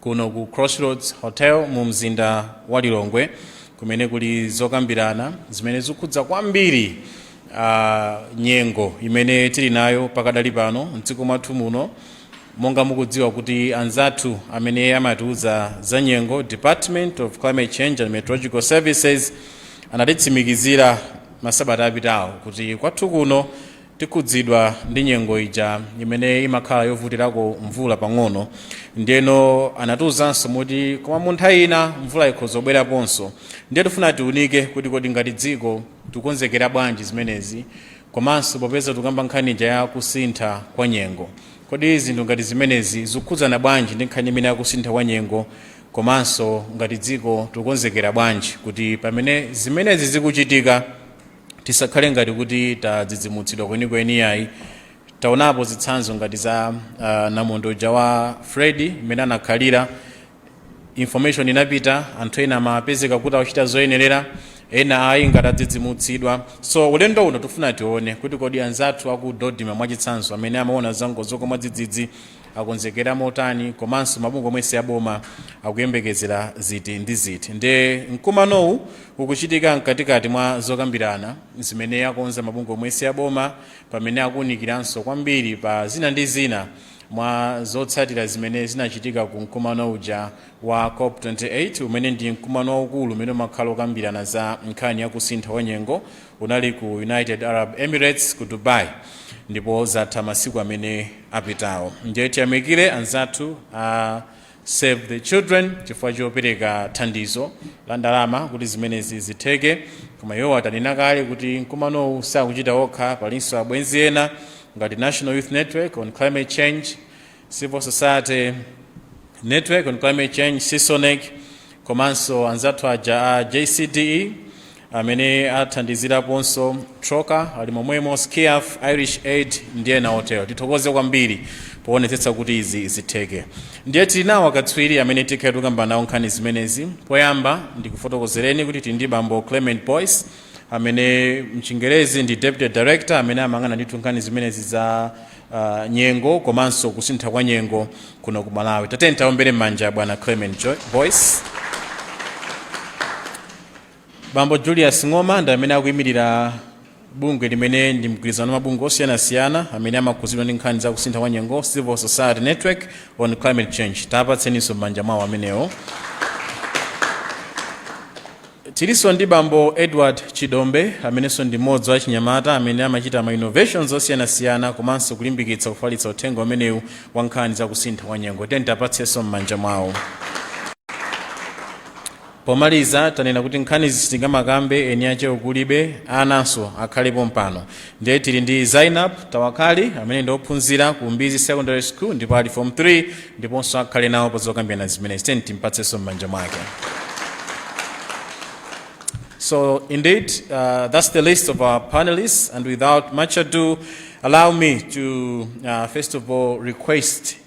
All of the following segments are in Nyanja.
kuno ku crossroads hotel mu mzinda wa lilongwe kumene kuli zokambirana zimene zikukhudza kwambiri ah, nyengo imene tili nayo pakadali pano mdziko mwathu muno monga mukudziwa kuti anzathu amene amatiuza za nyengo department of climate change and meteorological services anatitsimikizira masabata apitawo kuti kwathu kuno tikhudzidwa ndi nyengo ija imene imakhala yovutirako mvula pang'ono ndiyeno anatiuzanso kuti koma mu nthawi ina mvula ikhoza kubweraponso ndiye tifuna tiunike kuti kodi ngati dziko tikukonzekera bwanji zimenezi komanso popeza tikukamba nkhani ija ya kusintha kwa nyengo kodi zinthu ngati zimenezi zikukhudzana bwanji ndi nkhani imene yakusintha kwa nyengo komanso ngati dziko tikukonzekera bwanji kuti pamene zimenezi zikuchitika tisakhale ngati kuti tadzidzimutsidwa kwenikweni iyayi taonapo zitsanzo ngati za uh, namondwe uja wa freddy mmene anakhalira information inapita anthu ena amapezeka kuti akuchita zoyenerera ena ayi ngati adzidzimutsidwa so ulendo uno tifuna tione kuti kodi anzathu aku dodma mwachitsanzo amene amaona zangozi zogwa mwadzidzidzi akonzekera motani komanso mabungwe omwe si aboma akuyembekezera ziti ndi ziti nde mkumanowu ukuchitika mkatikati mwa zokambirana zimene akonza mabungwe omwe si aboma pamene akuwunikiranso kwambiri pa zina ndi zina mwa zotsatira zimene zinachitika ku mkumano uja wa cop 28 umene ndi mkumano waukulu umene umakhala okambirana za nkhani ya kusintha kwa nyengo Unali ku United Arab Emirates ku Dubai ndipo zatha masiku amene apitawo. Ndiye tiyamikire anzathu a Save the Children chifukwa chopereka thandizo la ndalama kuti zimenezi zitheke. Koma iwo atinena kale kuti mkumanowu sakuchita okha, palinso abwenzi ena ngati National Youth Network on Climate Change Civil Society Network on Climate Change CISONEC komanso anzathu aja a JCDE amene athandiziraponso trocaire ali momwemo sciaf irish aid ndi ena otero tithokoze kwambiri poonetsetsa kuti izi zitheke ndiye tili nawo akatswiri amene tikhala tikukamba nawo nkhani zimenezi poyamba ndikufotokozereni kuti tili ndi bambo clement boyce amene mchingerezi ndi deputy director amene amayang'ana ndithu nkhani zimenezi za uh, nyengo komanso kusintha kwa nyengo kuno ku malawi tatiyeni tiwaombere m'manja bwana clement Jo- boyce bambo julius ng'oma ndi amene akuyimirira bungwe limene ndi mgwirizano wa mabungwe osiyanasiyana amene amakhudzidwa ndi nkhani za kusintha kwa nyengo civil society network on climate change tapatseninso m'manja mwawo amenewo Tilinso ndi bambo Edward Chidombe amenenso ndi mmodzi wa achinyamata amene amachita ma innovations osiyanasiyana komanso kulimbikitsa kufalitsa uthenga umenewu wa nkhani za kusintha kwa nyengo. Tiyeni tiwapatsenso m'manja mwawo. Pomaliza tanena kuti nkhanizi sitingamakambe eni ache kulibe, ananso akhale pompano. ndiye tili ndi zainab tawakali amene ndi ophunzira ku mbizi secondary school ndipo ali form 3 ndiponso akhale nawo pa zokambirana zimenezi tiyeni timpatsenso m'manja mwake So indeed, uh, that's the list of our panelists. And without much ado, allow me to uh, first of all request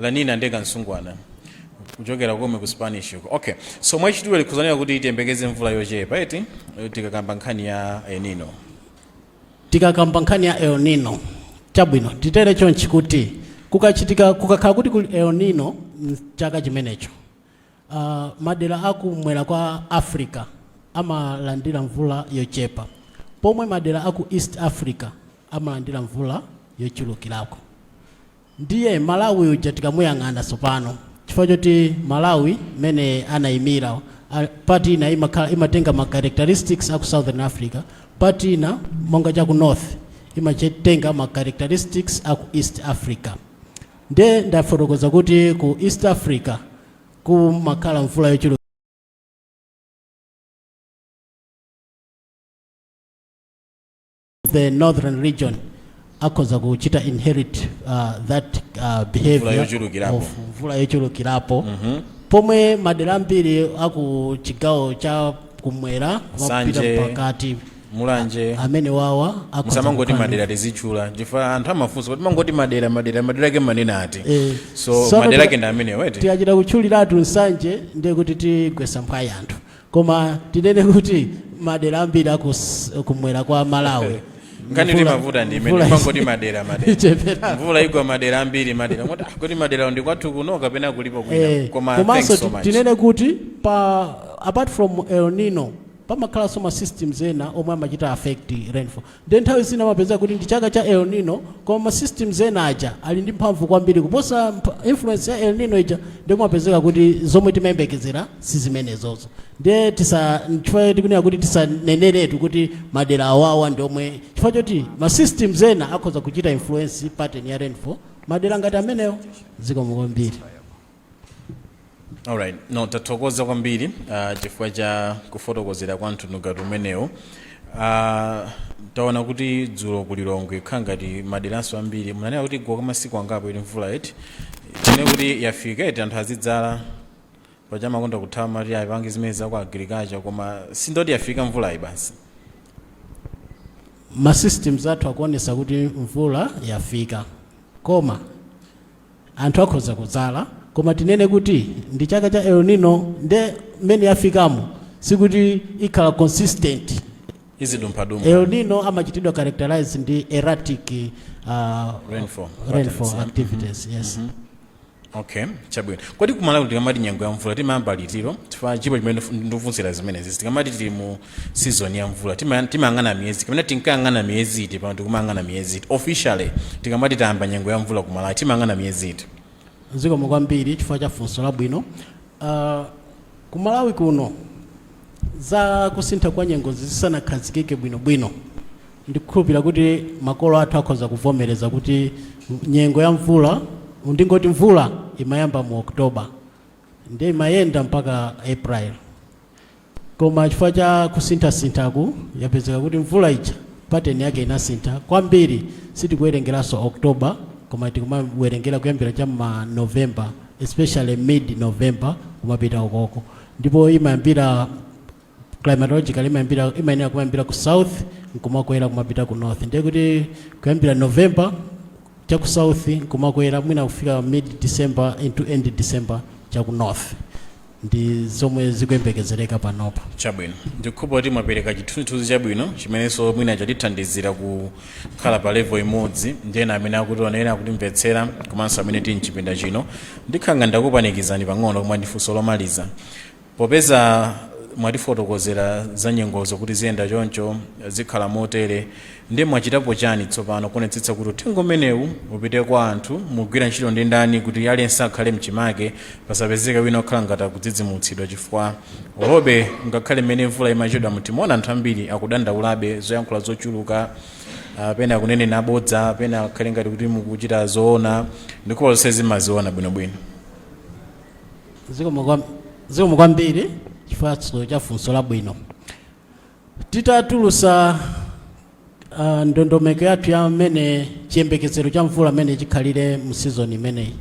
lanina nde kamsungwana kuchokera komwe ku spanish uko okay so mwachidule likutanthauza kuti tiyembekeze mvula yochepa eti eh, tikakamba nkhani ya el nino tikakamba nkhani ya el nino chabwino titere chonchi kuti kukachitika kukakhala kuti kuli el nino mchaka chimenecho uh, madera akumwera kwa africa amalandira mvula yochepa pomwe madera aku east africa amalandira mvula yochulukirako Ndiye Malawi uja tikamuyang'ana tsopano, chifukwa choti Malawi mmene anaimira, a, part ina imakhala imatenga ma characteristics a ku Southern Africa, part ina monga cha ku North imatenga ma characteristics a ku East Africa. Nde ndafotokoza kuti ku East Africa kumakhala mvula yochuluka the northern region akhoza kuchita inherit uh, that uh, behavior yochulukirapo. of mvula yochulukirapo pomwe madera ambiri aku chigawo cha kumwera kumapita Nsanje, pakati mulanje amene wawa akhoza musamangoti kukhala- madera tizitchula, chifukwa anthu amafunsa kuti mumangoti madera madera madera ake mumanena ati Eh, so sono madera ti- ake ndi amenewo eti tikachita kutchuliratu nsanje ndiye kuti tigwetsa mphwayi anthu koma tinene kuti madera ambiri akumwera kwa malawi nkhani Mvula- imavuta ndi imene mvula mumangoti isi- madera madera ichepera. mvula igwa madera ambiri madera moti ah, kodi madera ndi kwathu kuno kapena kulipo kwina Eh, koma komanso thanks so ti- much tinene kuti pa apart from el nino pamakhalanso ma systems ena omwe amachita affect rainfall Ndiye nthawi zina amapezeka kuti ndi chaka cha El Nino koma ma systems ena aja ali ndi mphamvu kwambiri kuposa mpha- influence ya El Nino ija ndiye kumapezeka kuti zomwe timayembekezera si zimenezozo ndiye tisa chifukwa tikunena kuti tisaneneretu kuti madera awawa ndi omwe chifukwa choti ma systems ena akhoza kuchita influence pattern ya rainfall madera ngati amenewo zikomo kwambiri Alright. No, tathokoza kwambiri uh, chifukwa cha kufotokozera kwa mtundu umenewu. Uh, taona kuti dzulo ku Lilongwe kukhala ngati maderanso ambiri munanena kuti yagwa kwa masiku angapo ili mvula eti tinene kuti yafika eti anthu azidzala paja mumakonda kuthawa mumati ayi pangani zimene za ku agriculture koma tingoti yafika mvulayi basi ma systems athu akuonesa kuti mvula yafika koma anthu akhoza kudzala koma tinene kuti ndi chaka cha El Nino nde mmene yafikamo sikuti ikhala consistent izidumphadumpha El Nino amachitidwa characterize ndi erratic uh, rainfall activities yes okay chabwino kodi ku Malawi tikamati nyengo ya mvula timayamba litilo chifukwa chilipo chimene ndikufunsira zimenezi tikamati tili mu season ya mvula Tima- timayang'ana miyezi kapena tinkayang'ana miyezi iti pano tikumayang'ana miyezi iti officially tikamati tayamba nyengo ya mvula ku Malawi timayang'ana miyezi iti zikomo kwambiri chifukwa cha funso labwino uh, ku Malawi kuno za kusintha kwa nyengozi zisanakhazikike bwinobwino ndikukhulupira kuti makolo athu akhoza kuvomereza kuti nyengo ya mvula ndingoti mvula imayamba mu oktoba ndiye imayenda mpaka april Koma chifukwa cha kusinthasinthaku yapezeka kuti mvula ija pattern yake inasintha kwambiri sitikuwerengeranso October koma tikumawerengera kuyambira cha mma November especially mid November kumapita ukoko ndipo imayambira climatologically imayambira imayenera kumayambira ku south nkumakwera kumapita ku north ndiye kuti kuyambira November cha ku south nkumakwera mwina kufika mid December into end December cha ku north ndi zomwe zikuyembekezereka panopa. Chabwino. Ndikukhulupirira kuti mwapereka chithunzithunzi chabwino chimenenso mwina chatithandizira kukhala pa level imodzi ndi ena amene akutionera, akutimvetsera komanso amene tili m'chipinda chino. Ndikhala ngati ndakupanikizani pang'ono koma ndi funso lomaliza. Popeza mwatifotokozera za nyengozo kuti ziyenda choncho, zikhala motere, Nde mwachitapo chani tsopano kuonetsetsa kuti uthenga umenewu upite kwa anthu? Mukugwira ntchito ndi ndani kuti aliyense akhale mchimake pasapezeke wina okhala ngati akudzidzimutsidwa chifukwa olobe ngakhale mmene mvula imachedwamu timaona anthu ambiri akudandaulabe zoyankhula zochuluka ah, pena akunena zabodza pena akhale ngati kuti mukuchita zoona ndikukhulupirira zonsezi mumaziona bwinobwino zikomo kwam- zikomo kwambiri chifukwa cha funso labwino Titatulusa uh, ndondomeko yathu ya mmene chiyembekezero cha mvula mmene chikhalire mu season imeneyi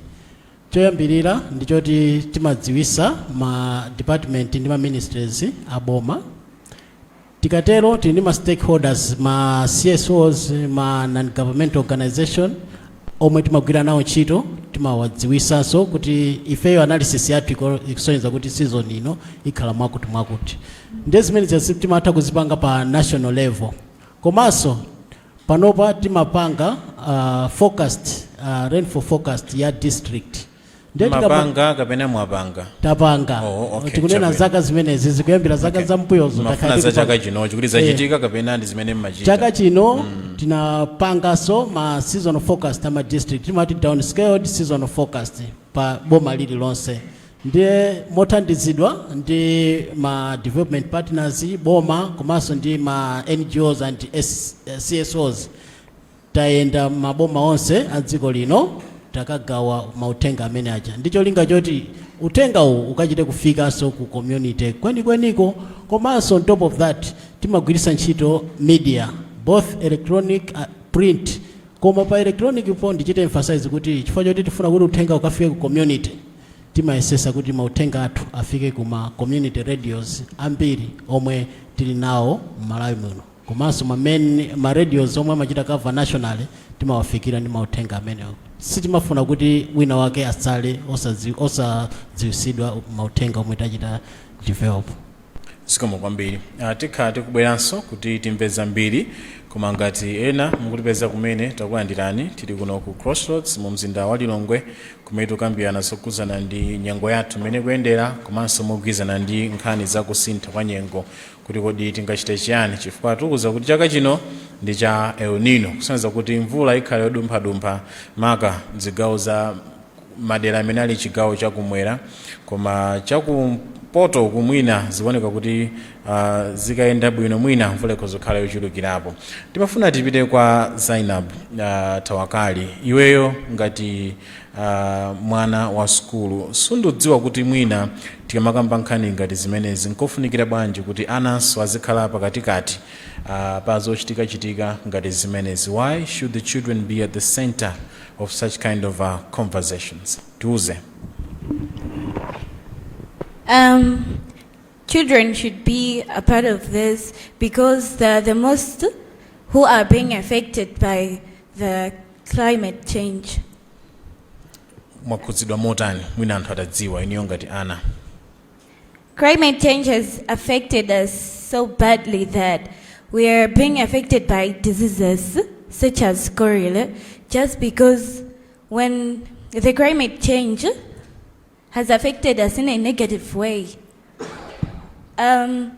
choyambirira ndi choti timadziwisa ma department ndi ma ministries a boma tikatero tili ndi ma stakeholders ma CSOs ma non governmental organization omwe timagwira nawo ntchito timawadziwisanso kuti ifeyo analysis yathu iko- ikusonyeza kuti season ino ikhala mwakuti mwakuti ndiye zimenezi timatha kuzipanga pa national level komanso panopa timapanga uh, forecast uh, rainfall forecast ya district Ndiye tikama- mapanga kapena mwapanga tapanga Oh, okay, tikunena chabwino. zaka zimenezi zikuyambira zaka za mbuyozo mmafuna takhala za tikupanga. chaka chino chikuti zachitika kapena ndi zimene mmachita chaka chino tinapanganso ma seasonal forecast ama district timati downscaled seasonal forecast pa boma lililonse ndiye mothandizidwa ndi ma development partners boma komanso ndi ma ngos and S- eh, csos Tayenda maboma onse a dziko lino takagawa mauthenga amene aja ndi cholinga choti uthenga uwu ukachite kufikanso ku community kwenikweniko komanso on top of that timagwiritsa ntchito media both electronic uh, print koma pa electronic po ndichite emphasize kuti chifukwa choti tifuna kuti uthenga ukafike ku community timayesesa kuti mauthenga athu afike ku ma community radios ambiri omwe tili nawo m'malawi muno komanso ma main ma radios omwe amachita cover nationally timawafikira ndi mauthenga amenewo sitimafuna kuti wina wake atsale osadziw- osadziwisidwa mauthenga omwe tachita develop zikomo kwambiri Ah, tikhala tikubweranso kuti timve zambiri koma ngati ena mukutipeza kumene takulandirani tili kuno ku crossroads mu mzinda wa lilongwe kumene tikukambirana zokhudzana ndi nyengo yathu mmene ikuyendera komanso mogwirizana ndi nkhani za kusintha kwa nyengo kuti kodi tingachite chiyani chifukwa atiwuza kuti chaka chino ndi cha El Nino kusonyeza kuti mvula ikhala yodumphadumpha maka zigawo za madera amene ali chigawo chakumwera koma chakumpoto uku mwina zikuoneka kuti uh, zikayenda bwino mwina mvula ikhoza kukhala yochulukirapo timafuna tipite kwa Zainab uh, Tawakali iweyo ngati mwana wa sukulu sindidziwa kuti mwina tikamakamba nkhani ngati zimenezi nkofunikira bwanji kuti ananso azikhala pakatikati ah, pa zochitikachitika ngati zimenezi why should the children be at the center of such kind of uh, conversations tiuze Um, children should be a part of this because they're the most who are being affected by the climate change. mwakhudzidwa motani mwina anthu atadziwa inuyo ngati ana Climate change has affected us so badly that we are being affected by diseases such as cholera just because when the climate change has affected us in a negative way. Um,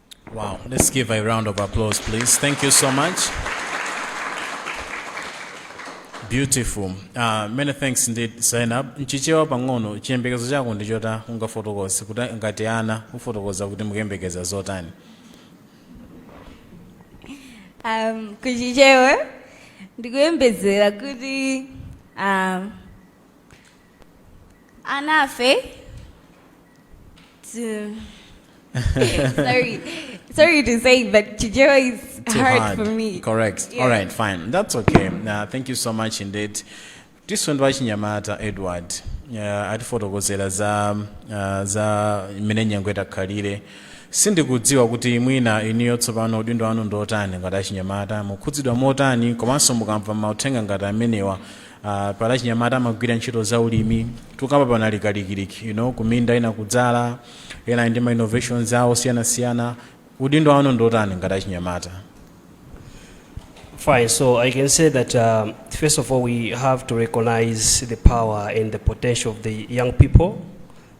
Wow, let's give a round of applause, please. Thank you so much. Beautiful. Uh, many thanks indeed, Zainab. Mchichewa pang'ono, chiyembekezo chako ndi chotani ungafotokoze kuti ngati ana kufotokoza kuti mukuyembekeza zotani. um, mu Chichewa ndikuyembekezera kuti um, Anafe. T- sorry, sorry to say, but Chichewa is Too hard, hard. for me. Correct. Yeah. All right, fine. That's okay. Uh, thank you so much indeed. tisunthe kwa wachinyamata Edward uh, atifotokozera za, uh, za imene nyengo itakhalire sindikudziwa kuti mwina inuyo tsopano udindo wanu ndiotani ngati achinyamata mukhudzidwa motani komanso mukamva mauthenga ngati amenewa Uh, paja achinyamata amagwira ntchito za ulimi kunjaku panali kalikiliki you know, kuminda ena akudzala ena ndi ma innovations awo osiyanasiyana udindo wanu ndiotani ngati achinyamata Fine, so I can say that um, first of all, we have to recognize the power and the potential of the young people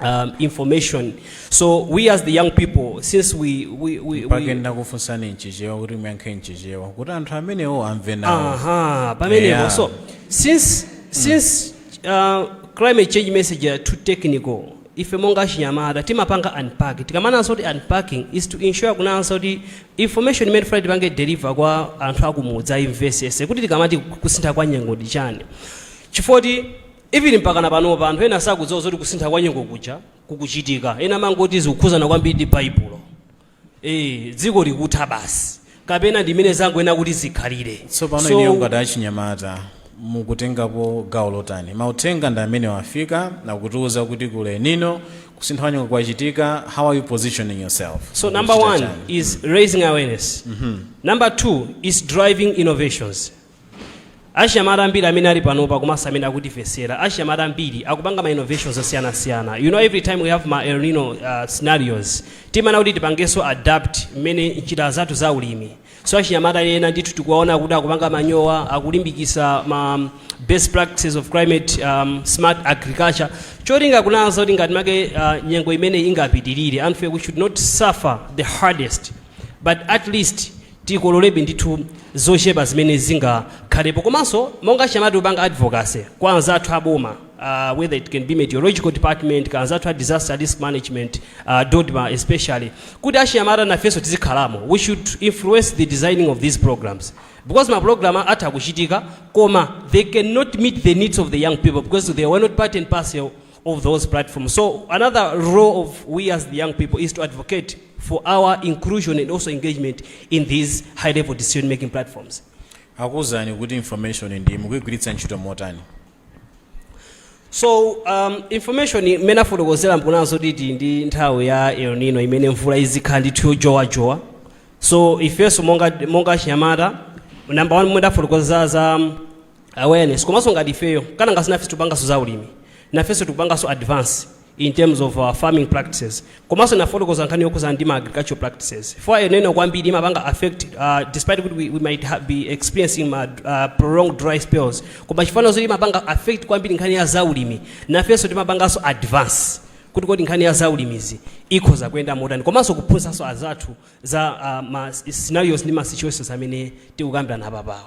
um, information. So we as the young people, since we we we, we paja ndakufunsani mchichewa kuti muyankhe mchichewa kuti anthu amenewo amve nawo aha pamenepo Yeah. so since since uh, climate change message are too technical ife monga achinyamata timapanga unpack tikamanena zoti unpacking is to ensure kuona zoti information imene tikufuna tipange deliver kwa anthu akumudzi aimvesese kuti tikamati kusintha kwa nyengo ndi chani chifukwa kuti Even mpakana panopa anthu ena sakudziwa zoti kusintha kwa nyengo kuja kukuchitika. Ena amangoti zikukhuzana kwambiri ndi Baibulo. Eeh dziko likutha basi. Kapena ndi mmene zangoyenera kuti zikhalire. Tsopano So- inuyo ngati achinyamata mukutengapo gawo lotani? Mauthenga ndi amenewa afika akutiuza kuti kuli El Nino kusintha kwa nyengo kwachitika. How are you positioning yourself? So number Mukuchita one chani? is raising awareness. Number two is driving innovations. Achinyamata ambiri amene ali panopa komanso amene akutimvetsera, achinyamata ambiri akupanga ma innovations osiyanasiyana. You know every time we have ma El Nino uh, scenarios, timaona kuti tipangenso adapt mmene njira zathu za ulimi. So achinyamata ena ndithu tikuwaona kuti akupanga manyowa, akulimbikisa ma best practices of climate um, smart agriculture. Cholinga kuona zoti ngati matter uh, nyengo imene ingapitirire, anthu we should not suffer the hardest, but at least tikololebe ndithu zochepa zimene zingakhalepo komanso monga achinyamata tikupanga advocacy kwa anzathu aboma uh, whether it can be meteorological department kaya anzathu a disaster risk management uh, dodma especially kuti achinyamata nafenso tizikhalamo we should influence the designing of these programs because maprogramu atha kuchitika koma they cannot meet the needs of the young people because they were not part and parcel of those platforms. So another role of we as the young people is to advocate for our inclusion and also engagement in these high level decision making platforms. akuwuzani kuti information-yi mukuyigwiritsa ntchito motani so um, information imene afotokozera nkunazo kuti ndi nthawi ya el nino imene mvula izikhala ndithu yonjowanjowa so ifenso monga, monga achinyamata namba one momwe ndafotokoza za um, awareness komanso ngati ifeyo kana ngati si nafenso tikupanganso za ulimi nafenso tikupanganso advance in terms of our farming practices komanso nafotokoza nkhani yokhudzana ndi ma agricultural practices for El Nino kwambiri imapanga affect uh, despite kuti we, we might ha- be experiencing ma, uh, prolonged dry spells koma chifukwa zoti imapanga affect kwambiri nkhani ya zaulimi nafenso timapanganso advance kuti kodi nkhani ya zaulimizi ikhoza kuyenda motani komanso kuphunzitsanso azathu za uh, ma scenarios ndi ma situations amene tikukambirana apapawa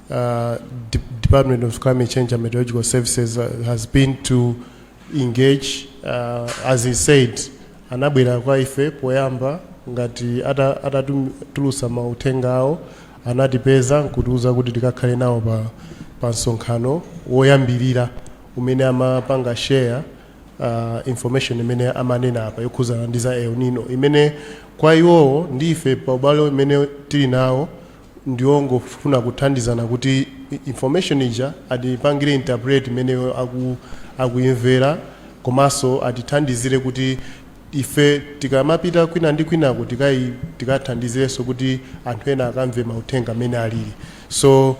uh, De Department of Climate Change and Meteorological Services uh, has been to engage uh, as I said anabwera kwa ife poyamba ngati ata- atatulusa mauthenga awo anatipeza nkutiuza kuti tikakhale nawo pa, pa msonkhano woyambirira umene amapanga share uh, information imene amanena apa yokhuzana ndi za El Nino imene kwa iwowo ndi ife pa ubale umene tili nawo ndi ongofuna kuthandizana kuti information ija atipangire interpret mmene iwo aku, akuimvera komanso atithandizire kuti ife tikamapita kwina ndi kwinako tikai tikathandizirenso kuti anthu ena akamve mauthenga mmene alili so uh,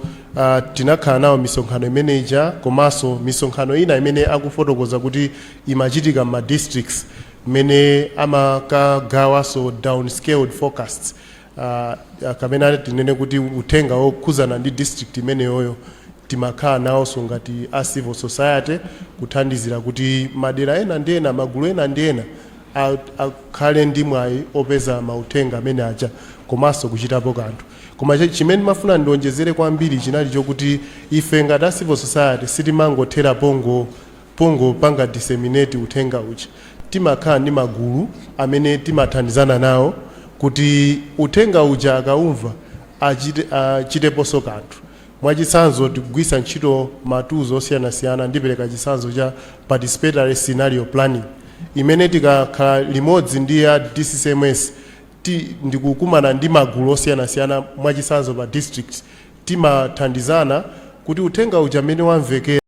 tinakhala nawo misonkhano imene ija komanso misonkhano ina imene akufotokoza kuti imachitika m'ma districts imene amakagawanso downscaled forecasts uh, kapena tinene kuti uthenga wokhuzana ndi district imeneyoyo timakhala nawonso ngati a civil society kuthandizira kuti madera ena ndi ena magulu ena ndi ena a- akhale ndi mwayi opeza mauthenga amene aja komanso kuchitapo kanthu koma chi- chimene ndimafuna ndionjezere kwambiri chinali chokuti ife ngati a civil society sitimangothera pongo Pongopanga disseminate uthenga uja, timakhala ndi magulu amene timathandizana nawo kuti uthenga uja akaumva achite achiteponso kanthu. Mwachitsanzo, tikugwiritsa ntchito ma tools osiyanasiyana, ndipereka chitsanzo cha participatory scenario planning imene tikakhala limodzi ndi a DCCMS ti ndikukumana ndi magulu osiyanasiyana mwachitsanzo pa district, timathandizana kuti uthenga uja mmene wamvekera.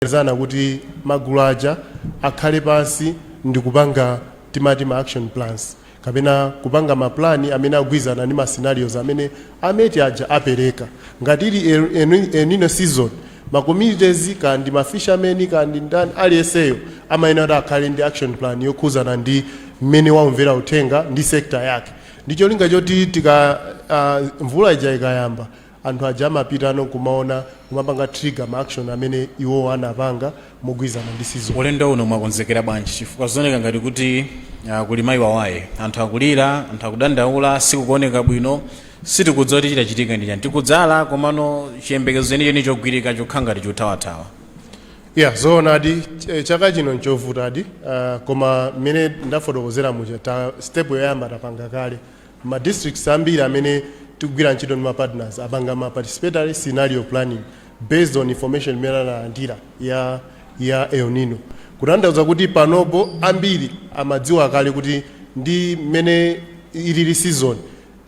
zana kuti magulu aja akhale pansi ndi kupanga timati ma action plans kapena kupanga mapulani amene agwirizana ndi ma scenarios amene a MET aja apereka. Ngati ili El, El, El Nino season, ma communities kaya ndi ma fishermen kaya ndi ndani aliyenseyo amayenera kuti akhale ndi action plan yokhuzana ndi mmene waumvera uthenga ndi sector yake ndi cholinga choti tika uh, mvula ija ikayamba anthu aja amapitano kumaona kumapanga trigger ma action amene iwo anapanga mogwirizana ndi season. Ulendo uno mwakonzekera bwanji chifukwa zikuoneka ngati kuti ah, kuli mayi wawaye, anthu akulira, anthu akudandaula, sikukuoneka bwino, sitikudziwa kuti chitachitika ndi chani, tikudzala komano chiyembekezo chenicheni chogwirika chokhala ngati chothawathawa. ya zoonadi ch- chaka chino nchovutadi uh, koma mmene ndafotokozera muja ta step yoyamba tapanga kale Ma districts ambiri amene tikugwira ntchito ndi ma partners apanga ma participatory scenario planning based on information imene analandira ya ya El Nino kutanthauza kuti panopo ambiri amadziwa kale kuti ndi mmene ilili season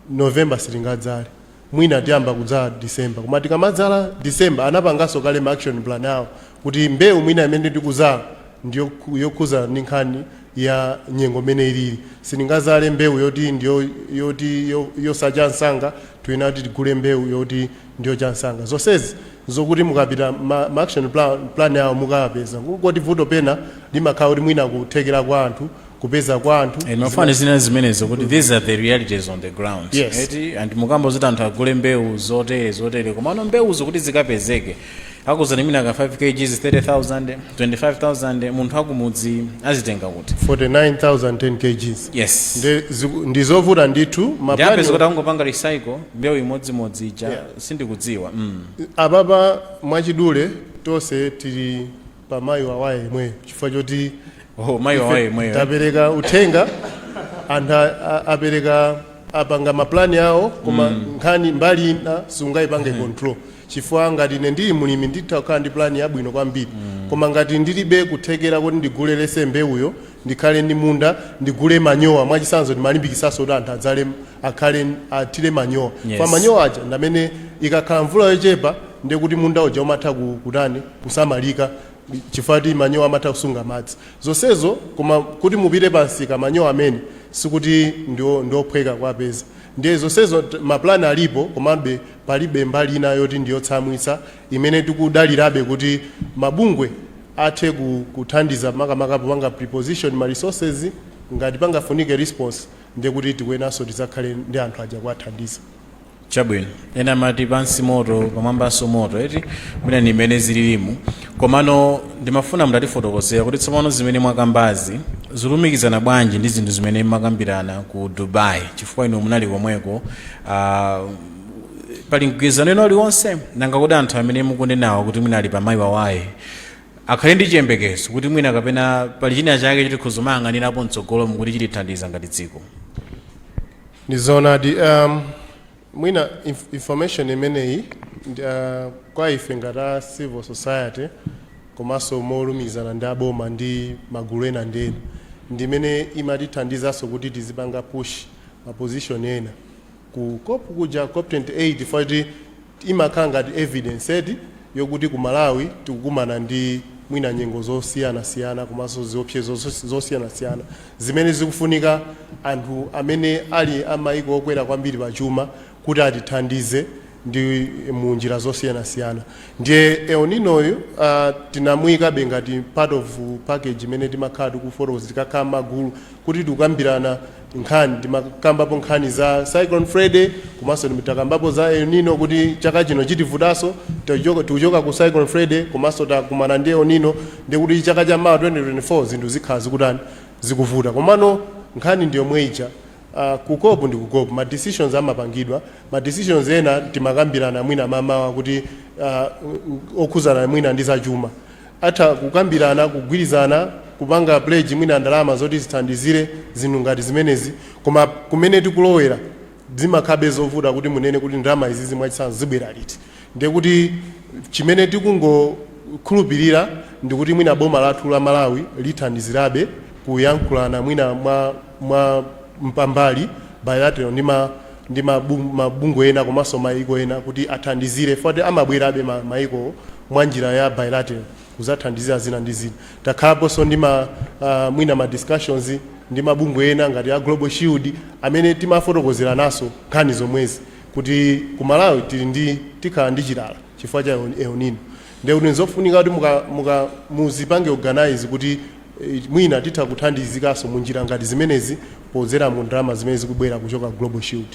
November sitingadzale. mwina tiyamba kudzala December koma tikamadzala December anapanganso kale ma action plan awo kuti mbewu mwina imene tikudzala ndi yokhuzana ndi nkhani ya nyengo mmene ilili sitingadzale mbewu yoti ndiyo yoti yosacha msanga tiyenera kuti tigule mbewu yoti ndi yocha msanga zonsezi zokuti mukapita ma, ma action plan, plan awo mukapeza kungoti vuto pena limakhala kuti mwina kuthekera kwa anthu kupeza kwa anthu Eh, zima- mafani zina zimenezo kuti these are the realities on the ground Yes. eti and mukamba zoti anthu agule mbewu zotere zotere komano mbewuzo kuti zikapezeke akuuzani mwina ka 5 kgs 30000 25000 munthu akumudzi azitenga kuti 49000 10 kgs yes Nde ziku- ndizovuta ndithu ndiapeza mapani kuti akungopanga recycle mbewu imodzimodzi ija Yeah. sindikudziwa mm. apapa mwachidule tonse tili pa mayi wawaye yemweyo chifukwa choti Oh, mayi ife wawaye yemweyo. tapereka uthenga anthu a- a- apereka apanga mapulani awo koma nkhani mbali ina sungayipange control chifukwa ngati ine ndili mulimi nditha kukhala ndi pulani yabwino kwambiri koma ngati ndilibe kuthekera kuti ndigule lese mbewuyo ndikhale ndi munda ndigule manyowa mwachitsanzo timalimbikitsanso kuti anthu adzale akhale athire manyowa Yes. kwa manyowa aja ndamene ikakhala mvula yochepa ndekuti munda uja umatha ku- kutani kusamalika chifukwa kuti manyowa amatha kusunga madzi zonsezo koma kuti mupite pa msika manyowa amene sikuti ndio- ndiophweka kuwapeza ndiye zonsezo t- mapulani alipo komabe palibe mbali ina yoti ndiyotsamwitsa imene tikudalirabe kuti mabungwe athe ku- kuthandiza makamaka popanga preposition ma resources ngati pangafunike response ndiye kuti tikuyenanso tidzakhale ndi anthu aja kuwathandiza chabwino ena amati pansi moto pamwambanso moto eti mwina ndi mmene zililimu komano ndimafuna mutatifotokozera kuti tsopano zimene mwakambazi zilumikizana bwanji ndi zinthu zimene mmakambirana ku dubai chifukwa inu munali komweko ah, pali mgwirizano wina uliwonse nanga kuti anthu amene mukunenawo kuti mwina ali pamayi wawaye akhale ndi chiyembekezo kuti mwina kapena pali china chake choti tizimang'anirapo mtsogolomu kuti chitithandiza ngati dziko Ndi zoonadi um, mwina inf information imeneyi ndi, uh, kwa ife ngati a civil society komanso molumikizana ndi aboma ndi magulu ena ndi ena ndi imene imatithandizanso kuti tizipanga push ma position ena ku cop kuja cop 28 foti imakhala ngati evidence eti yokuti ku Malawi tikukumana ndi mwina nyengo zosiyanasiyana komanso ziopsezo zosiyanasiyana zimene zikufunika anthu amene ali a maiko okwera kwambiri pa chuma kuti atithandize ndi mu njira zosiyanasiyana ndiye El Nino yu uh, tinamuikabe ngati part of package imene timakhala tikufotokoza tikakhala magulu kuti tikukambirana nkhani timakambapo nkhani za Cyclone Freddy komanso tim- takambapo za El Nino kuti chaka chino chitivutaso tikuchoka tikuchoka ku Cyclone Freddy komanso takumana ndi El Nino ndi kuti chaka cha mawa 2024 zinthu zikhala zikutani zikuvuta komano nkhani ndi yomwe ija Uh, ku COP ndi ku COP ma decisions amapangidwa ma decisions ena timakambirana mwina mamawa kuti uh, okhuzana mwina ndi zachuma atha kukambirana, kugwirizana kupanga pledge mwina ndalama zoti zithandizire zinthu ngati zimenezi koma kumene tikulowera zimakhalabe zovuta kuti munene kuti ndalama izizi mwachitsanzo zibwera liti ndiye kuti chimene tikungokhulupirira ndikuti mwina boma lathu la Malawi lithandizirabe kuyankhulana mwina mwa mwa mpambali, bilateral, ndi ma ndi ma bung- mabungwe ena komanso mayiko ena kuti athandizire chifukwa kuti amabwerabe ma- mayikowo mwa njira ya bilateral kuzathandizira zina ndi zina takhalaponso ndi ma ah, mwina ma discussions ndi mabungwe ena ngati a global shield amene timafotokozerananso nkhani zomwezi kuti ku malawi tili ndi tikhala ndi chilala chifukwa cha El- el nino Ndiye kuti nzofunika kuti muzipange organize kuti eh, mwina titha kuthandizikanso mu njira ngati zimenezi podzera mu ndalama zimene zikubwera kuchoka ku Global Shield.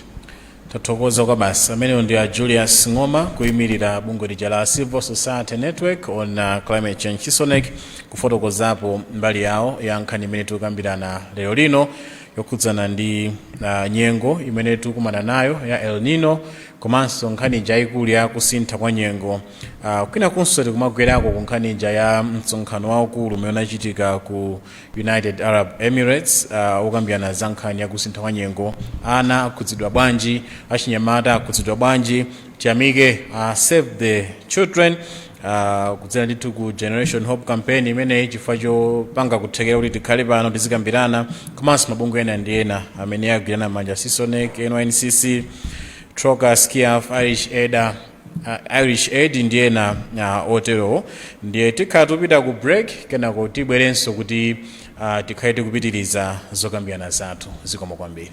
tathokoza kwabasi amenewo ndi a julius ng'oma kuyimirira bungwe lija la civil society network on uh, climate change cisonecc kufotokozapo mbali yawo ya nkhani imene tikukambirana lero lino yokhudzana ndi uh, nyengo imene tikukumana nayo ya el nino komanso nkhani ija yaikulu ya kusintha kwa nyengo Uh, kwinakunso tikumagwerako ku nkhani ija ya msonkhano waukulu umene unachitika ku united arab emirates uh, okambirana za nkhani ya kusintha kwa nyengo ana akhudzidwa bwanji achinyamata akhudzidwa bwanji tiyamike uh, save the children uh, kudzera ndithu ku generation hope campaign imeneyi chifukwa chopanga kuthekera kuti tikhale pano tizikambirana komanso mabungwe ena ndi ena amene agwirana manja cisonecc nyncc trocaire sciaf irish aid a Irish Aid ndi ena a, oterowo ndiye tikhala tupita ku break kenako tibwerenso kuti a, tikhale tikupitiriza zokambirana zathu zikomo kwambiri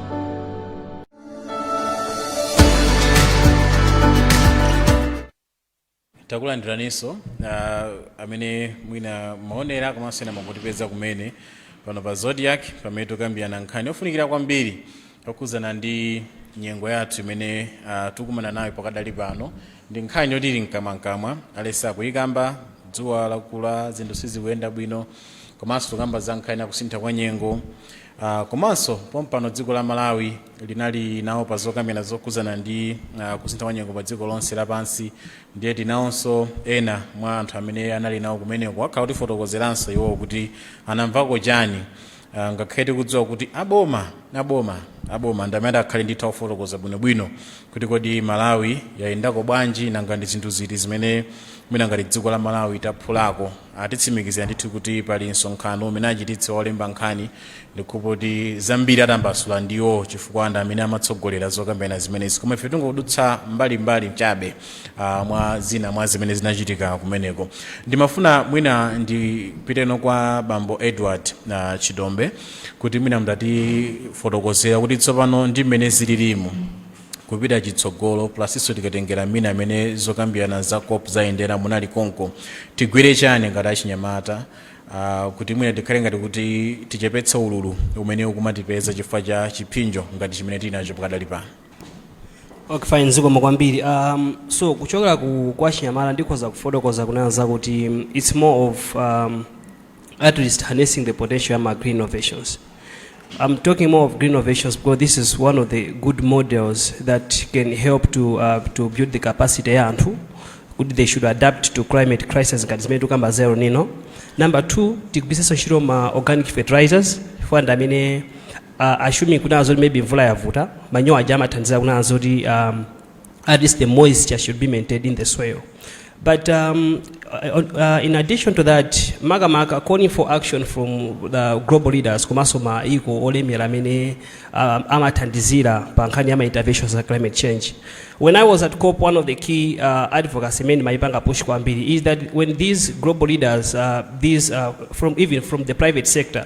takulandiraninso uh, amene mwina mumaonera komanso ena mwangotipeza kumene pano pa zodiak pamene tikambirana nkhani yofunikira kwambiri yokhudzana ndi nyengo yathu imene uh, tikumana nayo pakadali pano ndi nkhani yoti ili mkamwamkamwa aliyense akuyikamba dzuwa lakula zinthu sizikuyenda bwino komanso tikamba za nkhani yakusintha kwa nyengo Uh, komanso pompano dziko la malawi linali nawo pa zokambirana zokhudzana ndi uh, kusintha kwa nyengo pa dziko lonse lapansi ndiye tinawonso ena mwa anthu amene anali nawo kumeneko akhala akutifotokozeranso iwowo kuti anamvako chani uh, ngakhale tikudziwa kuti aboma ndi amene akhale ndithu akufotokoza bwinobwino kuti kodi malawi yayendako bwanji nanga ndi zinthu ziti zimene mwina ngati dziko la malawi taphulako atitsimikizira ndithu kuti pali msonkhano umene achititse olemba nkhani ndikhulupirira kuti zambiri atambasula ndiwo chifukwa ndi amene amatsogolera zokambirana zimenezi koma ife tingodutsa mbalimbali chabe ah, mwa zina mwa zimene zinachitika kumeneko ndimafuna mwina ndipiteno kwa bambo edward ah, chidombe kuti mwina mutatifotokozera kuti tsopano ndi mmene zililimu kupita chitsogolo komanso tikatengera mmene amene zokambirana za cop zayendera munali konko tigwire chani ngati achinyamata uh, kuti mwina tikhale ngati kuti tichepetse ululu umene ukumatipeza chifukwa cha chiphinjo ngati chimene tili nacho pakadali pano okay fine zikomo kwambiri um, so kuchokera ku kwa achinyamata ndikhoza kufotokoza kunena zakuti um, it's more of um, at least harnessing the potential ya ma green innovations I'm talking more of green innovations because this is one of the good models that can help to, uh, to build the capacity ya anthu kuti they should adapt to climate crisis ngati zimene tikukamba za El Nino number two tigwiritsenso ntchito ma organic fertilizers chifukwa ndi amene uh, assuming kunena zoti maybe mvula yavuta manyowa aja amathandiza kunena zoti um, at least the moisture should be maintained in the soil. But um, uh, uh, in addition to that, makamaka calling for action from the global leaders komanso maiko olemera amene um, amathandizira pa nkhani ya ma interventions za climate change. When I was at COP, one of the key uh, advocacy men maipanga push kwambiri is that when these global leaders, uh, these uh, from even from the private sector,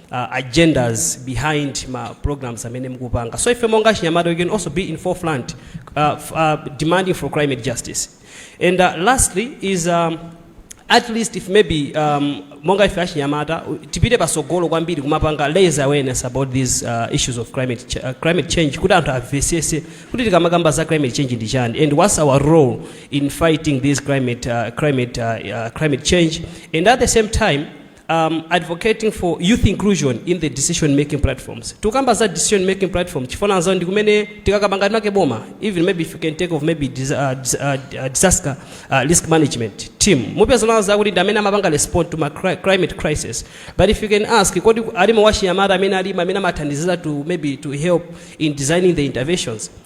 uh, agendas behind ma programs amene mukupanga so ife monga achinyamata we can also be in forefront uh, f- uh, demanding for climate justice and uh, lastly is um, at least if maybe um, monga ife achinyamata u- tipite pasogolo kwambiri kumapanga raise awareness about these uh, issues of climate, ch uh, climate change kuti anthu amvesese kuti tikamakamba za climate change ndi chani and what's our role in fighting this climate, uh, climate, uh, uh, climate change and at the same time um, advocating for youth inclusion in the decision making platforms tikukamba za decision making platform chifukwa chonena zoti ndi kumene tikakamba ngati ma boma even maybe if you can take of maybe dis, uh, dis, uh, uh, disaster uh, risk management team mupeza kunena zakuti ndi amene amapanga respond to ma cri climate crisis but if you can ask kodi alimo wachinyamata amene alimo amene amathandizira to maybe to help in designing the interventions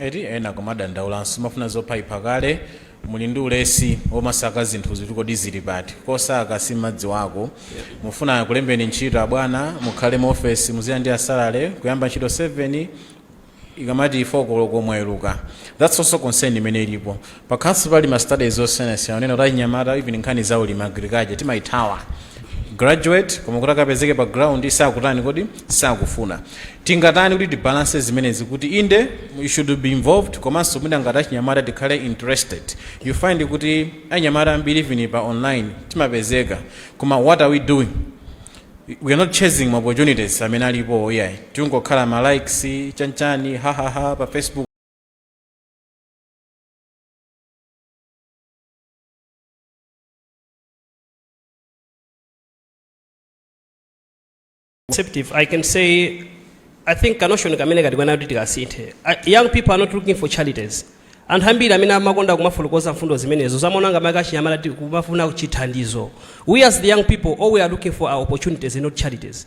Eti ena akumadandaulanso mumafuna zophaipha kale muli ndi ulesi womasaka zinthuzi kuti kodi zili pati kosaka simumadziwako mufuna akulembeni ntchito abwana mukhale mu office muzilandira salary kuyamba ntchito 7 ikamati 4 koloko mwaweruka that's also concern imene ilipo Pakhalanso pali ma studies osiyanasiyana onena kuti achinyamata even nkhani za ulimi agriculture timaithawa. Graduate koma kuti akapezeke pa ground sakutani kodi? Sakufuna. Tingatani kuti tibalance zimenezi kuti inde you should be involved komanso mwina ngati achinyamata tikhale interested. You find kuti achinyamata ambiri even pa online timapezeka koma what are we doing? We are not chasing ma opportunities amene alipo iyayi. Tikungokhala ma likes, chanchani, hahaha pa Facebook. conceptive, I can say, I think kanoshoni kamene tikuyenera kuti tikasinthe. Uh, Young people are not looking for charities. anthu ambiri amene amakonda kumafotokoza mfundo zimenezo amaona ngati achinyamata ti- kumafuna chithandizo we as the young people all we are looking for are opportunities and not charities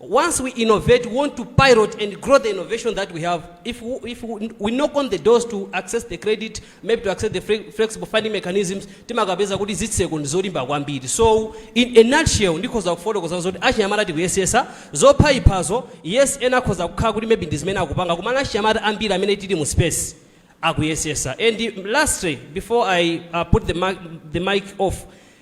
Once we innovate, we want to pilot and grow the innovation that we have. If we, if we, we knock on the doors to access the credit, maybe to access the fre- flexible funding mechanisms, timakapeza kuti zitseko ndi zolimba kwambiri. So in a nutshell, ndikhoza kufotokoza zokuti achinyamata tikuyesetsa zophaiphazo, yes ena akhoza kukhala kuti maybe ndi zimene akupanga, komano achinyamata ambiri amene tili mu space akuyesetsa. And lastly, before I uh, put the mic, the mic off,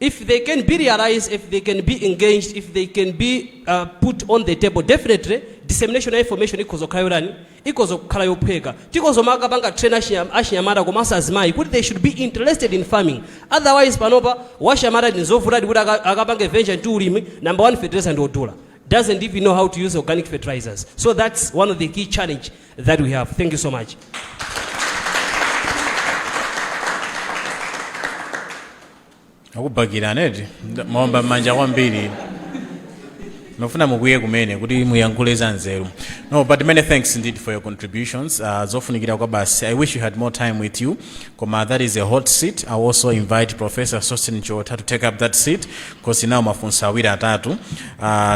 If they can be realized, if they can be engaged, if they can be uh, put on the table, definitely dissemination ya information ikhoza kumakhala yotani ikhoza kumakhala yophweka tikhoza kumakapanga train achinyam- achinyamata komanso azimayi kuti they should be interested in farming otherwise panopa wachinyamata ndizovutadi kuti aka- akapange venture into ulimi number one fertilizer ndi wodula doesn't even know how to use organic fertilizers so that's one of the key challenge that we have. Thank you so much. akubakirani eti maomba m'manja kwambiri ndimafuna mukwiye kumene kuti muyankhule za nzeru no but many thanks indeed for your contributions uh, zofunikira kwabasi i wish you had more time with you koma that is a hot seat i also invite professor sosten chiotha to take up that seat because now mafunso awiri atatu uh,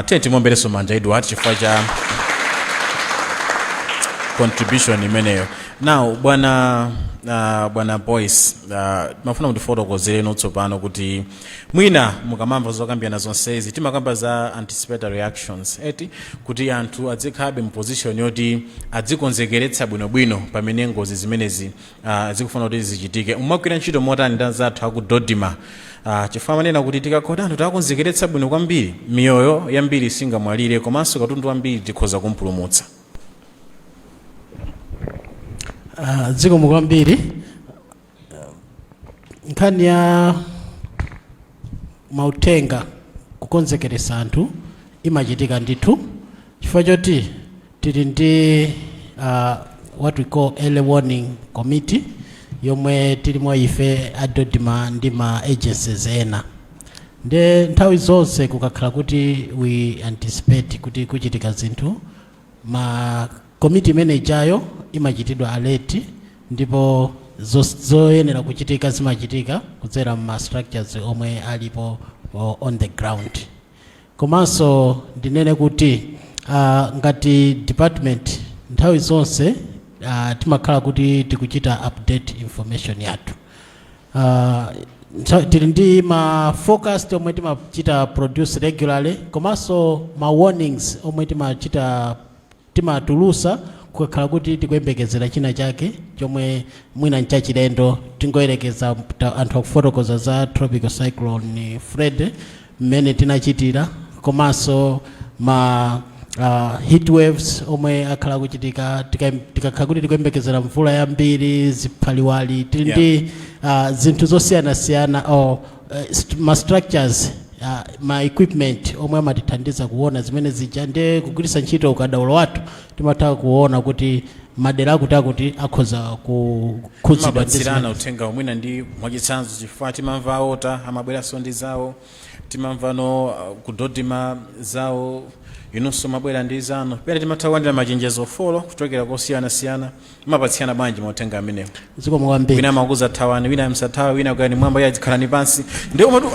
tiyeni timuomberenso manja edward chifukwa cha contribution imeneyo now bwana uh, bwana boyce uh, ndimafuna mutifotokozereno tsopano kuti mwina mukamamva zokambirana zonsezi timakamba za anticipatory actions eti kuti anthu adzikhalabe mu position yoti adzikonzekeretsa bwinobwino pamene ngozi zimenezi uh, zikufuna kuti zichitike mumagwira ntchito motani ndi anzathu aku dodma uh, chifukwa amanena kuti tikakhala kuti anthu tawakonzekeretsa bwino kwambiri miyoyo yambiri singamwalire komanso katundu wambiri tikhoza kumpulumutsa Ah, zikomo kwambiri Ah, nkhani ya mauthenga kukonzekeretsa anthu imachitika ndithu chifukwa choti tili ndi uh, what we call early warning committee yomwe tilimo ife a dodma ndi ma agencies ena nde nthawi zonse kukakhala kuti we anticipate kuti kuchitika zinthu committee imene ijayo imachitidwa alert ndipo zos- zoyenera kuchitika zimachitika kudzera mu ma structures omwe alipo o- on the ground Komanso ndinene kuti ngati department nthawi zonse timakhala kuti tikuchita update information yathu. Tili ndi ma forecast omwe timachita produce regularly komanso ma warnings omwe timachita. Timatulutsa kukakhala kuti tikuyembekezera china chake chomwe mwina nchachilendo. Tingoyerekeza anthu akufotokoza za Tropical Cyclone Freddy mmene tinachitira komanso ma heat waves omwe akhala akuchitika tikakhala kuti tikuyembekezera mvula yambiri, ziphaliwali, tili ndi zinthu zosiyanasiyana. eh, st- ma structures ah, ma equipment omwe amatithandiza kuona zimene zija ndi kugwiritsa ntchito ukadaulo wathu timatha kuona kuti madera akuti akuti akhoza kukhudzidwa mumapatsirana zimene- uthenga mwina ndi mwachitsanzo chifukwa timamva a water amabweranso ndi zawo timamvanso uh, ku dodma zawo inunso mumabwera ndi zanu pena timatha kulandira machenjezo four kuchokera kosiyanasiyana mumapatsirana bwanji mauthenga amenewo zikomo kwambiri wina amakuuzani thawani wina musathawe wina pitani mmwamba iyayi khalani pansi ndiye matu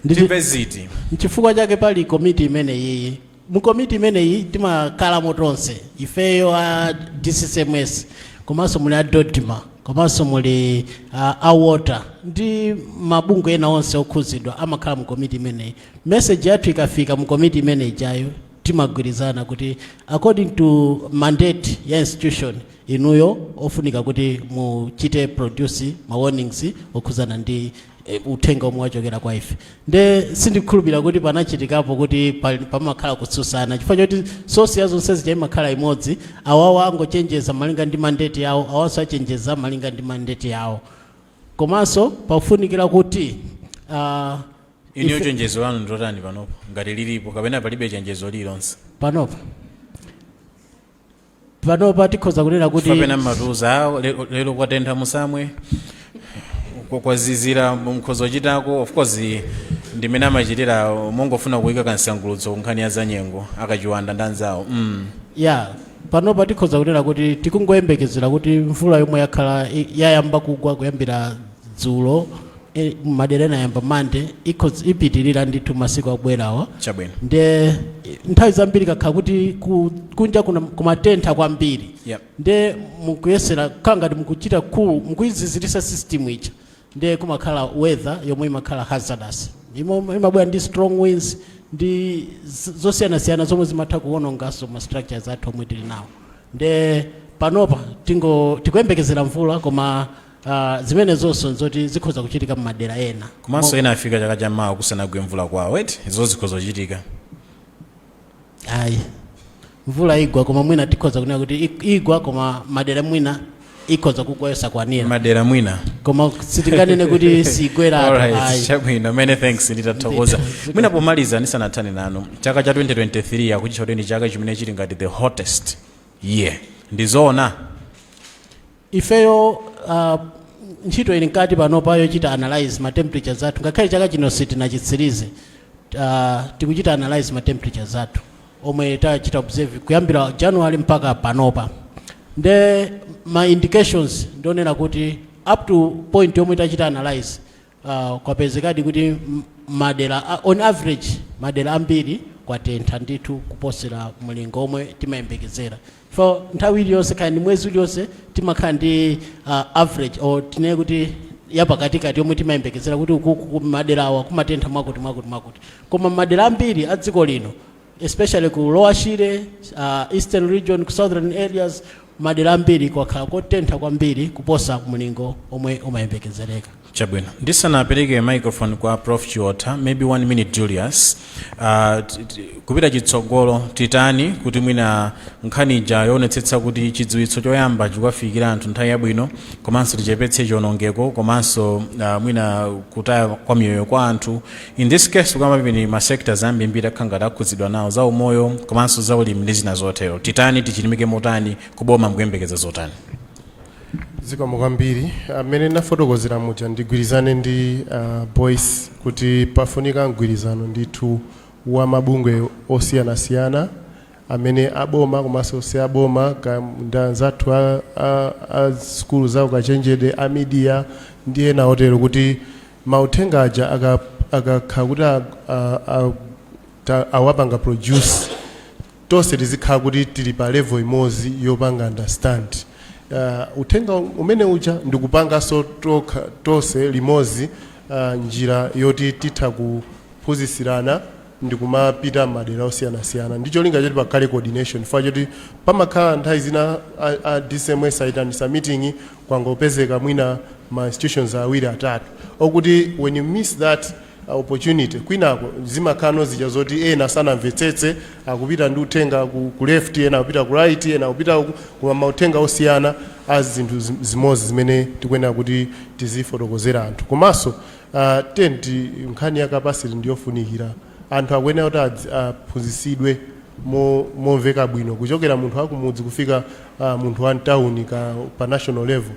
ti- timve ziti nchifukwa chake pali komiti imeneyi mu komiti imeneyi timakhalamo tonse ifeyo a dccms komanso muli a dodma komanso muli a, a water ndi mabungwe ena onse okhuzidwa amakhala mu komiti imeneyi meseji yathu ikafika mu komiti imene ijayo timagwirizana kuti according to mandate ya institution inuyo pofunika kuti muchite produce ma warnings okhuzana ndi eh, uthenga omwe wachokera kwa ife nde sindikhulupirira kuti panachitikapo kuti pa- pamakhala kutsutsana chifukwa choti sosi ya zonse zija imakhala imodzi awawo angochenjeza malinga ndi mandate yawo awanso achenjeza malinga ndi mandate yawo komanso pafunikira kuti ah, inuyo chenjezo lanu ndilotani panopa ngati lilipo kapena palibe chenjezo lililonse panopa panopa tikhoza kunena kuti kapena mumatiuza awo le- lero kwatentha musamwe kwa- kwazizira mukhoza kuchitako of course ndimene amachitira mongofuna kuyika kansangulutso ku nkhani ya zanyengo akachiwanda ndi anzawo mm. ya panopa tikhoza kunena kuti tikungoyembekezera kuti mvula yomwe yakhala i- yayamba kugwa kuyambira dzulo e, madera ena yayamba mande ikhoz- ipitirira ndithu masiku akubwerawa chabwino nde eh, nthawi zambiri kukakhala kuti ku- kunja kuna- kumatentha kwambiri Yep. nde mukuyesera kukhala ngati mukuchita cool mukuyiziziritsa system ija nde kumakhala weather yomwe imakhala hazardous Imo- imabwera ndi strong winds ndi z- zosiyanasiyana zomwe zimatha kuwononganso ma structures athu omwe tili nawo nde panopa tingo tikuyembekezera mvula koma Uh, zimenezonso nzoti zikhoza kuchitika mmadera ena komanso ena afika chaka cha mawa kusanagwe mvula kwawo eti izo zikhoza kuchitika ayi mvula igwa koma mwina tikhoza kunena kuti ik- igwa koma madera ena mwina ikhoza kugwa yosakwanira madera mwina koma sitinganene kuti siigwera anthu, Alright, ayi chabwino many thanks ndithu tathokoza mwina pomaliza ndisanathane nanu chaka cha 2023 akuchitcha kuti ndi chaka chimene chili ngati the hottest year ndizoona ifeyo uh, ntchito ili mkati panopa yochita analyze ma temperatures athu ngakhale chaka chino sitinachitsirize uh, tikuchita analyze ma temperatures athu omwe tachita observe kuyambira january mpaka panopa nde ma indications ndi onena kuti up to point yomwe tachita analyze Kwapezekadi kuti madera a, on average, madera ambiri kwatentha ndithu kuposera mlingo womwe timayembekezera chifukwa nthawi iliyonse kaya ndi mwezi uliwonse timakhala ndi average or tinene kuti yapakatikati yomwe timayembekezera kuti ukuku madera awa kumatentha mwakuti mwakuti mwakuti koma madera ambiri a dziko lino especially ku lower shire uh, eastern region ku southern areas madera ambiri kwakhala kotentha kwambiri kuposa mlingo omwe umayembekezereka chabwino ndisanapereke microphone kwa prof chiotha maybe one minute julius uh, t- t- kupita chitsogolo titani kuti mwina nkhani ija yoonetsetsa kuti chidziwitso choyamba chikuwafikira anthu nthawi yabwino komanso tichepetse chionongeko komanso uh, mwina kutaya kwa miyoyo kwa anthu In this case kukamba pamene ma sectors ambirimbiri akhala ngati akhudzidwa nawo za umoyo komanso za ulimi ndi zina zotero titani tichilimike motani kuboma mukuyembekeza zotani zikomo kwambiri mmene ndinafotokozera muja ndigwirizane ndi uh, boyce kuti pafunika mgwirizano ndithu wa mabungwe osiyanasiyana amene aboma komanso si aboma ka- ndi anzathu a, a, a sukulu za ukachenjede a midiya ndi ena otero kuti mauthenga aja akakhala kuti awapanga produce tonse tizikhala kuti tili pa level imodzi yopanga understand uh, uthenga umene uja ndikupanganso tonse limodzi uh, njira yoti titha kuphunzitsirana ndikumapita m'madera osiyanasiyana ndi cholinga choti pakhale coordination chifukwa choti pamakhala nthawi zina a, a DCMS ayitanisa meeting kwangopezeka mwina ma institutions awiri atatu okuti when you miss that uh, opportunity kwinako zimakhala zija zoti ena sanamvetsetse akupita ndi uthenga ku, ku left ena akupita ku right ena akupita uku, koma mauthenga osiyana a zinthu zim- zimodzi zimene tikuyenera kuti tizifotokozera anthu komanso Uh, tent nkhani ya capacity ndiyofunikira anthu akuyenera kuti adzi- aphunzitsidwe mo- momveka bwino kuchokera munthu wakumudzi kufika uh, munthu wa mtawuni ka pa national level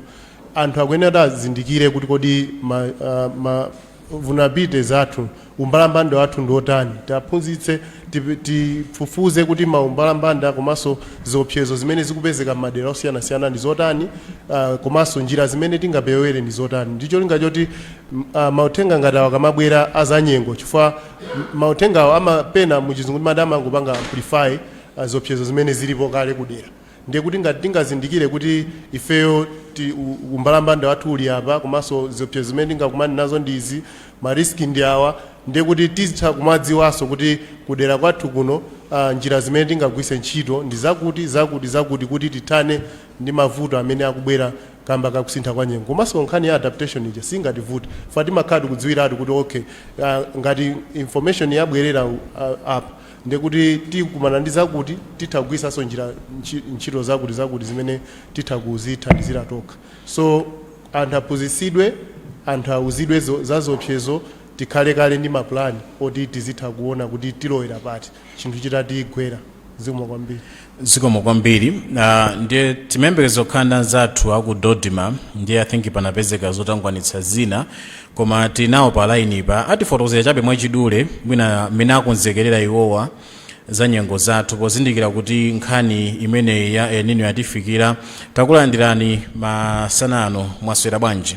anthu akuyenera kuti azindikire kuti kodi ma, uh, ma vulnerabilities athu umbalambanda wathu ndi otani tiaphunzitse Tifufuze kuti maumbalambanda komanso ziopsezo zimene zikupezeka m'madera osiyanasiyana ndi zotani komanso njira zimene tingapewere ndi zotani ndi cholinga choti mauthenga ngati awa akamabwera a zanyengo chifukwa mauthengawo mapena muchizungu timati amangopanga amplify ziopsezo zimene zilipo kale kudera. Ndiye kuti ngati tingazindikire kuti ifeyo u, umbalambanda wathu uli apa komanso ziopsezo zimene tingakumane nazo ndi izi, ma risk ndi awa, ndiye kuti tizitha kumadziwanso kuti kudera kwathu kuno a, njira zimene tingagwiritse ntchito ndi zakuti, zakuti kuti tithane ndi mavuto amene akubwera kamba ka kusintha kwa nyengo. Komanso nkhani ya adaptation ija siingativute chifukwa timakhala tikudziwiratu kuti okay a, ngati information yabwerera a, apa, ndiye kuti tikumana ndi zakuti, titha kugwiritsanso njira, ntchi, ntchito zakuti zakuti zimene titha kudzithandizira tokha. So anthu aphunzitsidwe, anthu auzidwe zo, za ziopsezo, tikhale kale ndi ma plan oti tizitha kuona kuti tilowera pati chinthu chitatigwera. Zikomo kwambiri. zikomo kwambiri uh, ndiye timayembekeza kukhala ndi anzathu aku DoDMA ndiye i think panapezeka zotangwanitsa zina koma tili nawo pa line pa atifotokozere chabe mwachidule mwina mmene akonzekerera iwowa za nyengo zathu pozindikira kuti nkhani imeneyi ya El Nino yatifikira takulandirani masana ano mwaswera bwanji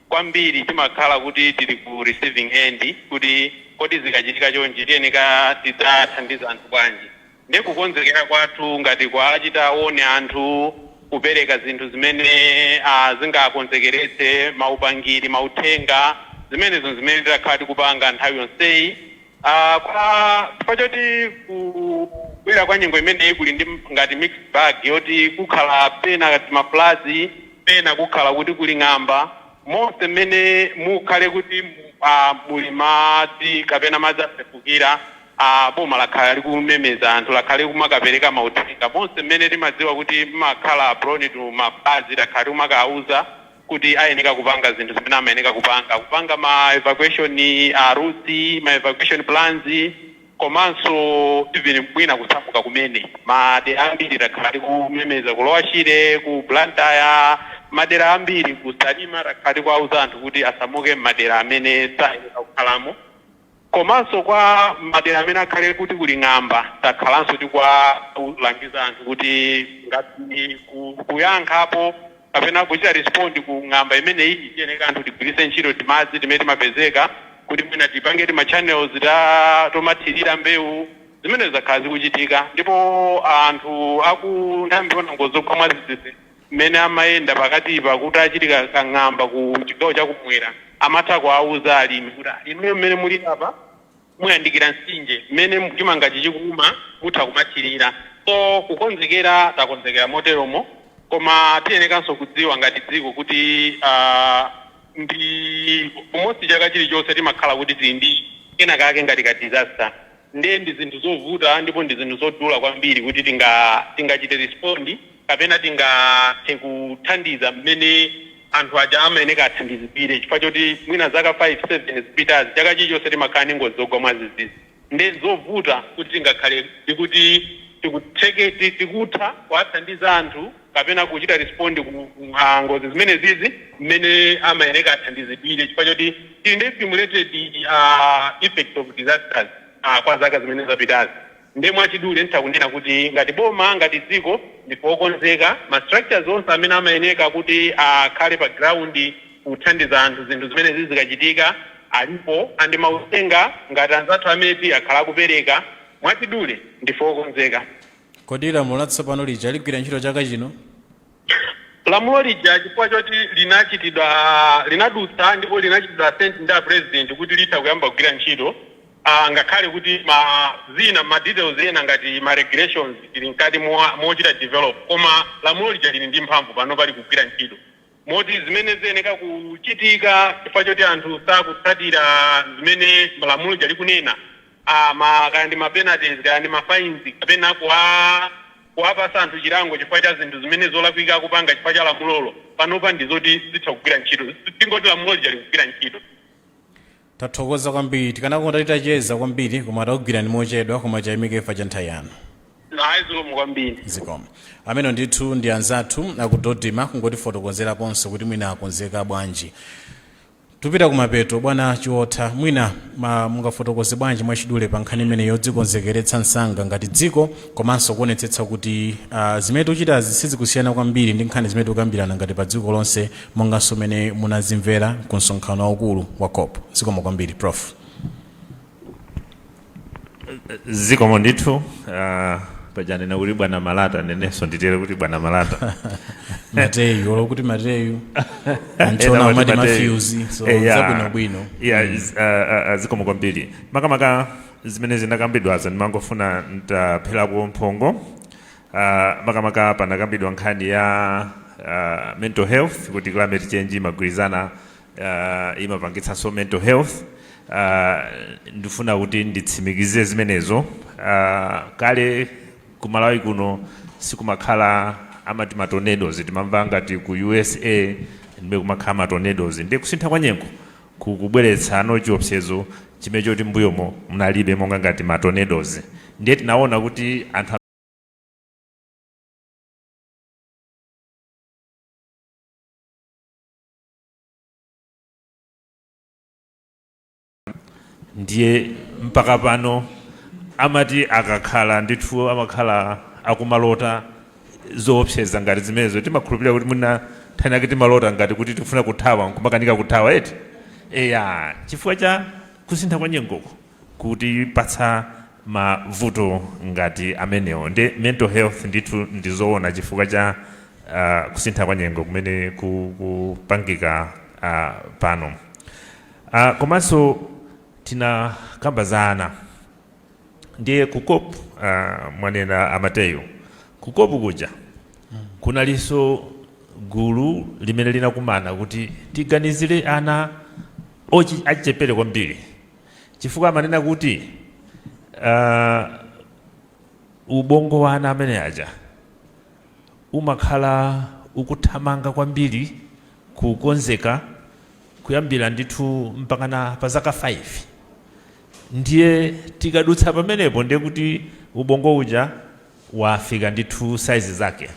kwambiri timakhala kuti tili ku receiving end kuti kodi zikachitika chonchi tiyenika tidzathandize anthu bwanji nde kukonzekera kwathu ngati kuwachita warn anthu kupereka zinthu zimene a zingakonzekeretse maupangiri mauthenga zimenezo nzimene takhala tikupanga nthawi yonseyi a a chifukwa choti kubwera kwa nyengo imeneyi kuli ndi ngati mixed bag yoti kukhala pena tima floods pena kukhala kuti kuli ng'amba, monse m'mene mukhale kuti a, muli madzi kapena madzi asefukira, a, boma lakhala likumemeza anthu, lakhala likumakapereka mauthenga, monse m'mene timadziwa kuti m'makhala prone to ma floods, takhala tikumakawauza kuti ayeneka kupanga zinthu zimene amayeneka kupanga, kupanga ma evacuation a routes, ma evacuation plans. Komanso even mwina kusamuka kumene, madera ambiri takhala tikumemeza ku lower Shire, ku Blantyre, madera ambiri ku Salima takhala tikuwauza anthu kuti asamuke mmadera amene sayeneka kukhalamo. Komanso kwa madera amene akhale kuti kuli ng'amba takhalanso tikuwalangiza anthu kuti ngati kuyankhapo. kapena kuchita respond ku ng'amba imeneyi tiyeneka anthu tigwiritse ntchito timadzi timene timapezeka kuti mwina tipange tima channels ta tomathirira mbewu zimene zakhala zikuchitika ndipo anthu a ku nthambi yoona ngozi zogwa mwadzidzidzi mmene amayenda pakatipa kutachitika ka ng'amba ku chigawo chakumwera amatha kuwauza alimi kuti inuyo mmene mulili apa muyandikira mtsinje mmene chimangachi chikuuma mutha kumathirira so kukonzekera takonzekera moteromo koma tiyenekanso kudziwa ngati dziko kuti aah ndi almost chaka chilichonse timakhala kuti tili ndi kenakake ngati ka disaster nde ndi zinthu zovuta ndipo ndi zinthu zodula kwambiri kuti tinga tingachite respond kapena tingathe kuthandiza mmene anthu aja amayeneka athandizidwire chifukwa choti mwina zaka 5, 7 zapitazi chaka chilichonse timakhala ndi ngozi zogwa mwadzidzidzi nde zovuta kuti tingakhale ndikuti tikutheke tikutha kuwathandiza anthu kapena kuchita respond ku ngozi zimenezizi mmene amayeneka athandizidwire chifukwa choti tili ndi accumulated effects of disasters kwa zaka zimene zapitazi. Nde mwachidule ntha kunena kuti ngati boma ngati dziko ndife okonzeka ma structures onse amene amayeneka kuti akhale pa ground kuthandiza anthu zinthu zimenezi zikachitika alipo and mauthenga ngati anzathu a MET akhala akupereka mwachidule ndife okonzeka. Kodi lamulo latsopano lija ligwira ntchito chaka chino? Lamulo lija chifukwa choti linachitidwa linadutsa ndipo linachitidwa assent ndi a president kuti litha kuyamba kugwira ntchito ngakhale kuti ma zina ma details ena ngati ma regulations tili mkati mochita develop koma lamulo lija lili ndi mphamvu panopa likugwira ntchito moti zimene ziyeneka kuchitika chifukwa choti anthu sakutsatira zimene lamulo lija likunena a ma kaya ndi ma penalties kaya ndi ma fines kapena kuwa kuwapatsa anthu chilango chifukwa cha zinthu zimene zolakwika akupanga chifukwa cha lamulolo panopa ndi zoti zitha kugwira ntchito zi- tingoti lamulo lija likugwira ntchito tathokoza kwambiri tikanakonda titacheza kwambiri koma takugwirani mochedwa koma tayamikira cha nthawi yanu ayi zikomo kwambiri zikomo amene ndithu ndi anzathu a ku DoDMA kungotifotokozeraponso kuti mwina akonzeka bwanji Tupita kumapeto bwana Chiotha mwina ma mungafotokoze bwanji mwachidule pa nkhani imeneyi yodzikonzekeretsa msanga ngati dziko komanso kuonetsetsa kuti uh, zimene tikuchitazi sizikusiyana kwambiri ndi nkhani zimene tikukambirana ngati pa dziko lonse monganso mmene munazimvera ku msonkhano waukulu wa COP zikomo kwambiri prof zikomo ndithu ah, paja anena kuti bwana Malata nanenso nditere kuti bwana Malata Mateyu olo kuti Mateyu Ena antchona amati umati Mateyu. Matthews so Eh, yeah. zabwinobwino Yeah, is- ah, ah, ah, zikomo kwambiri makamaka zimene zinakambidwazo ndimangofuna ntapherako mphongo Ah, makamaka panakambidwa nkhani ya ah, mental health kuti climate change imagwirizana uh, imapangitsanso mental health uh, ndifuna kuti nditsimikize zimenezo uh, kale kumalawi kuno sikunkakhala amati matornadoes timamva ngati ku usa ndi kumene kumakhala matornadoes ndiye kusintha kwa nyengo kukubweretsa ano chiopsezo chimene choti mbuyomo munalibe monga ngati matornadoes ndiye tinaona kuti anthu ndiye mpaka pano amati akakhala ndithu amakhala akumalota zoopseza ngati zimenezo timakhulupirira kuti mwina nthano yake timalota ngati kuti tifuna kuthawa nkumakanika kuthawa eti eya chifukwa cha kusintha kwa nyengoko kutipatsa mavuto ngati amenewo nde mental health ndithu ndizoona chifukwa cha kusintha kwa nyengo kumene kupangika pano komanso tinakamba za ana ndiye ku cop mwanena a Mateyu ku cop kuja kunalinso gulu limene linakumana kuti tiganizire ana achichepere kwambiri chifukwa amanena kuti uh, ubongo wa ana amene aja umakhala ukuthamanga kwambiri kukonzeka kuyambira ndithu mpakana pa zaka 5 ndiye tikadutsa pamenepo ndiye kuti ubongo uja wafika ndithu saizi zake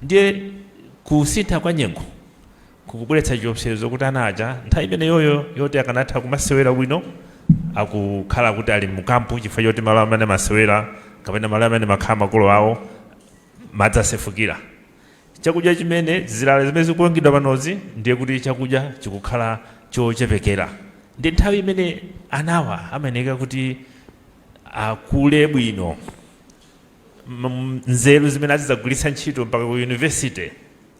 Ndiye kusintha kwa nyengo kukubweretsa chiopsezo kuti ana aja nthawi imeneyoyo yoti akanatha kumasewera bwino akukhala kuti ali mukampu chifukwa choti malo amene amasewera kapena malo amene amakhala makolo awo madzi asefukira chakudya chimene zilala zimene zikulongedwa panozi ndiye kuti chakudya chikukhala chochepekera ndi nthawi imene anawa amayeneka kuti akule bwino m- nzeru zimene azidzagwiritsa ntchito mpaka ku yunivesite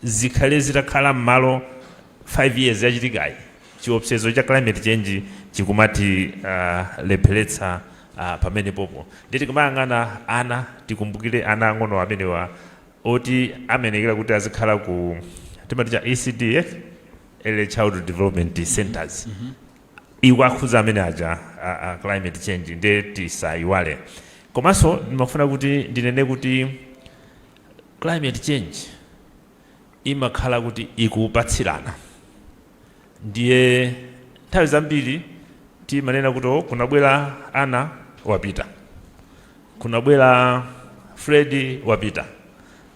zikhale zitakhala m'malo 5 years yachitikayi chiopsezo cha climate change chikumatilepheretsa uh, pamenepopo ndiye tikamayang'ana ana tikumbukire ana ang'ono amenewa oti amayenekera kuti azikhala ku timati cha ecd early child development centers ikuwakhudza amene aja a, a climate change nde tisayiwale komanso ndimafuna kuti ndinene kuti climate change imakhala kuti ikupatsirana ndiye nthawi zambiri timanena kuti "Oh, kunabwera ana wapita kunabwera fredi wapita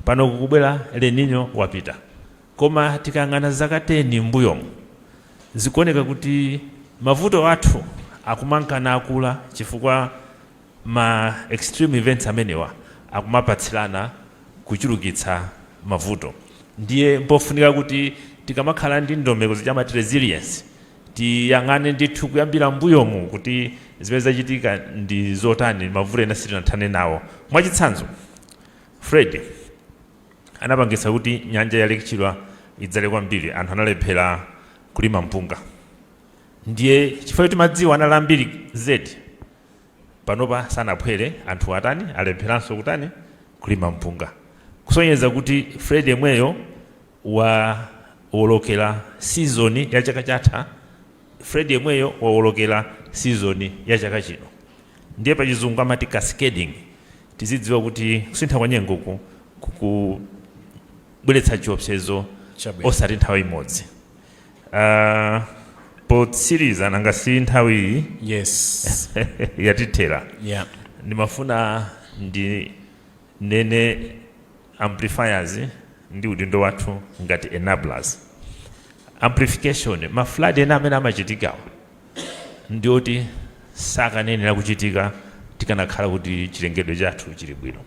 pano kukubwera el nino wapita Koma tikayang'ana zaka 10 m'mbuyomu, zikuoneka kuti mavuto athu akumanka nakula chifukwa ma extreme events amenewa akumapatsirana kuchulukitsa mavuto. Ndiye mpofunika kuti tikamakhala ndi ndondomeko zija amati resilience, tiyang'ane ndithu kuyambira m'mbuyomu kuti zimene zachitika ndi zotani, mavuto ena sitinathane nawo. Mwachitsanzo, Freddy. anapangitsa kuti nyanja ya Lake Chilwa idzale kwambiri, anthu analephera kulima mpunga. Ndiye chifukwa choti madziwo anali ambiri zedi, panopa sanaphwere, anthu atani, alepheranso kutani, kulima mpunga. Kusonyeza kuti Freddy yemweyo wawolokera sizoni ya chaka chatha. Freddy yemweyo wawolokera season ya chaka chino ndiye pachizungu amati cascading tizidziwa kuti kusintha kwa nyengoku kukubweretsa chiopsezo Chabwino. osati nthawi imodzi uh, potsiriza nanga si nthawi iyi yes yatithera yeah ndimafuna ndi nene amplifiers ndi udindo wathu ngati enablers amplification ma flood ena amene amachitikawa ndi oti sakanenera kuchitika tikanakhala kuti chilengedwe chathu chili bwino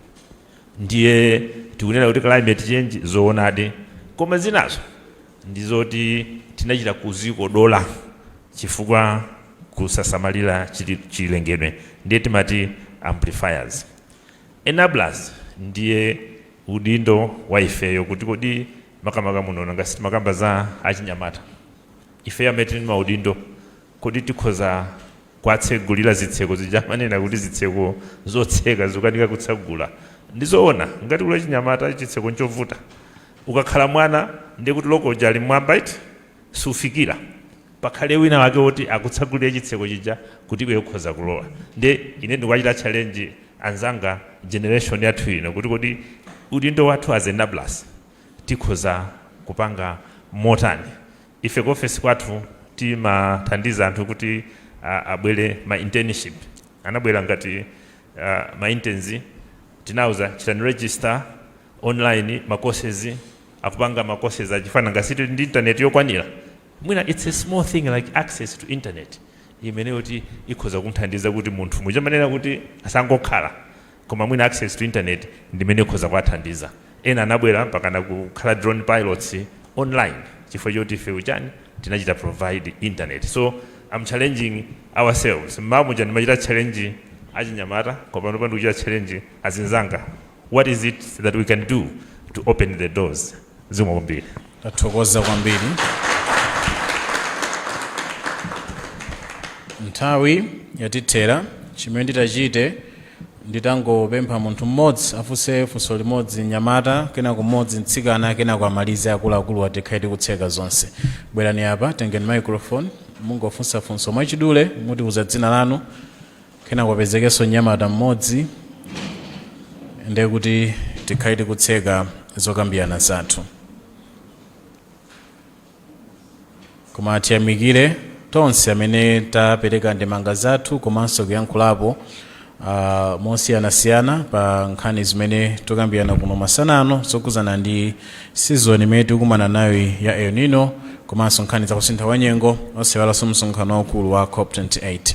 ndiye tikunena kuti climate change zoonadi koma zinazo ndi zoti tinachita kuzikodola chifukwa kusasamalira chilengedwe ndiye timati amplifiers Enablers ndiye udindo wa ifeyo kuti kodi makamaka muno nanga si timakamba za achinyamata ifeyo amene tili ndi maudindo kodi tikhoza kuwatsegulira zitseko zija amanena kuti zitseko zotseka zikukanika kutsegula ndi zoona ngati kuli achinyamata chitseko nchovuta ukakhala mwana ndiye kuti loko uja ali mmwamba eti sufikira pakhale wina wake woti akutsegulire chitseko chija kuti iwe ukhoza kulowa. Ndiye ine ndikuwachita challenge anzanga, generation yathu ino, kuti kodi udindo wathu as enablers tikhoza kupanga motani? Ife ku ofesi kwathu timathandiza anthu kuti a, abwere ma internship. Anabwera ngati a, ma interns tinawauza chitani register online ma courses akupanga ma courses a chipani nanga si ndi internet yokwanira Mwina it's a small thing like access to internet imene yoti ikhoza kumthandiza kuti munthu muja amanena kuti asangokhala koma mwina access to internet ndimene ikhoza kuwathandiza ena anabwera mpakana kukhala drone pilots online chifukwa choti ife ujeni tinachita provide internet so I'm challenging ourselves mmawa muja ndimachita challenge achinyamata koma panopa ndikuchita challenge azinzanga what is it that we can do to open the doors Zikomo kwambiri. Tathokoza kwambiri. Nthawi yatithera. Chimene nditachite nditangopempha munthu mmodzi afunse funso limodzi mnyamata, kenako mmodzi mtsikana, kenako amalize akuluakuluwa tikhale tikutseka zonse. Bwerani apa, tengeni microphone, mungofunsa funso mwachidule, mutiuza dzina lanu, kenako apezekenso mnyamata mmodzi ndiye kuti tikhale tikutseka zokambirana zathu koma tiyamikire tonse amene tapereka ndemanga zathu komanso kuyankhulapo uh, mosiyanasiyana pa nkhani zimene tikukambirana kuno masana ano zokhudzana ndi sizoni imene tikukumana nayo ya el nino komanso nkhani za kusintha kwa nyengo osaiwalanso msonkhano waukulu wa cop 28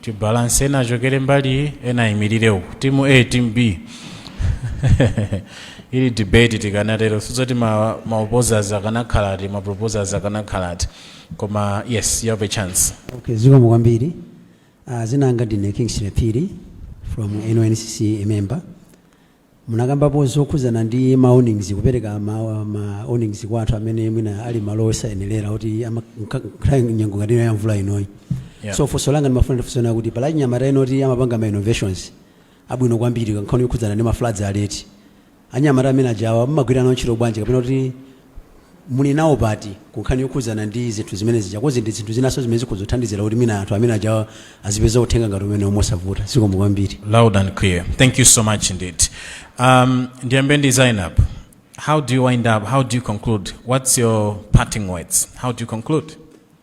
tibalance ena achokere mbali iyi ena ayimirire uku timu a timu b ili debate tikanatero sizoti ma, ma opposers akanakhala ati ma proposers akanakhala ati koma yes you have a chance Okay, zikomo kwambiri uh, dzina langa ndine kingsley phiri from NYNCC member Munakambapo zokhudzana ndi ma warnings kupereka ma ma warnings kwa anthu amene mwina ali malo osayenelera oti ama nkha- nkha- nyengo ngati ino ya mvula inoyi. Yeah. So funso langa ndimafuna ndifunse nawo kuti pali anyamata ena oti amapanga ma innovations abwino kwambiri kunkhani yokhudzana ndi ma floods alert. Anyamata amene ajawa mmagwira nawo ntchito bwanji kapena kuti muli nawo pati ku nkhani yokhudzana ndi zinthu zimene zija coz ndi zinthu zinanso zimene zikhoza kuthandizira kuti mwina anthu amene ajawo azipeza uthenga ngati umenewo mosavuta zikomo kwambiri loud and clear thank you so much indeed um, ndiyambe ndi zainab how do you wind up how do you conclude what's your parting words how do you conclude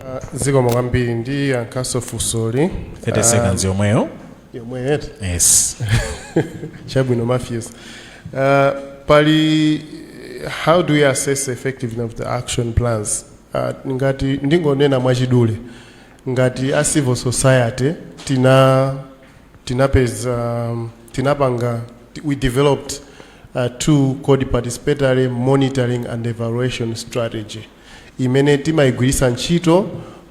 Uh, zikomo kwambiri ndiyankhenso funsoli 30 seconds yomweyo yomweyo yes chabwino Mathews uh, pali how do you assess the effectiveness of the action plans uh, ngati ndingonena mwachidule ngati a civil society tina tinapeza um, tinapanga ti- we developed uh, tool called participatory monitoring and evaluation strategy imene timaigwiritsa ntchito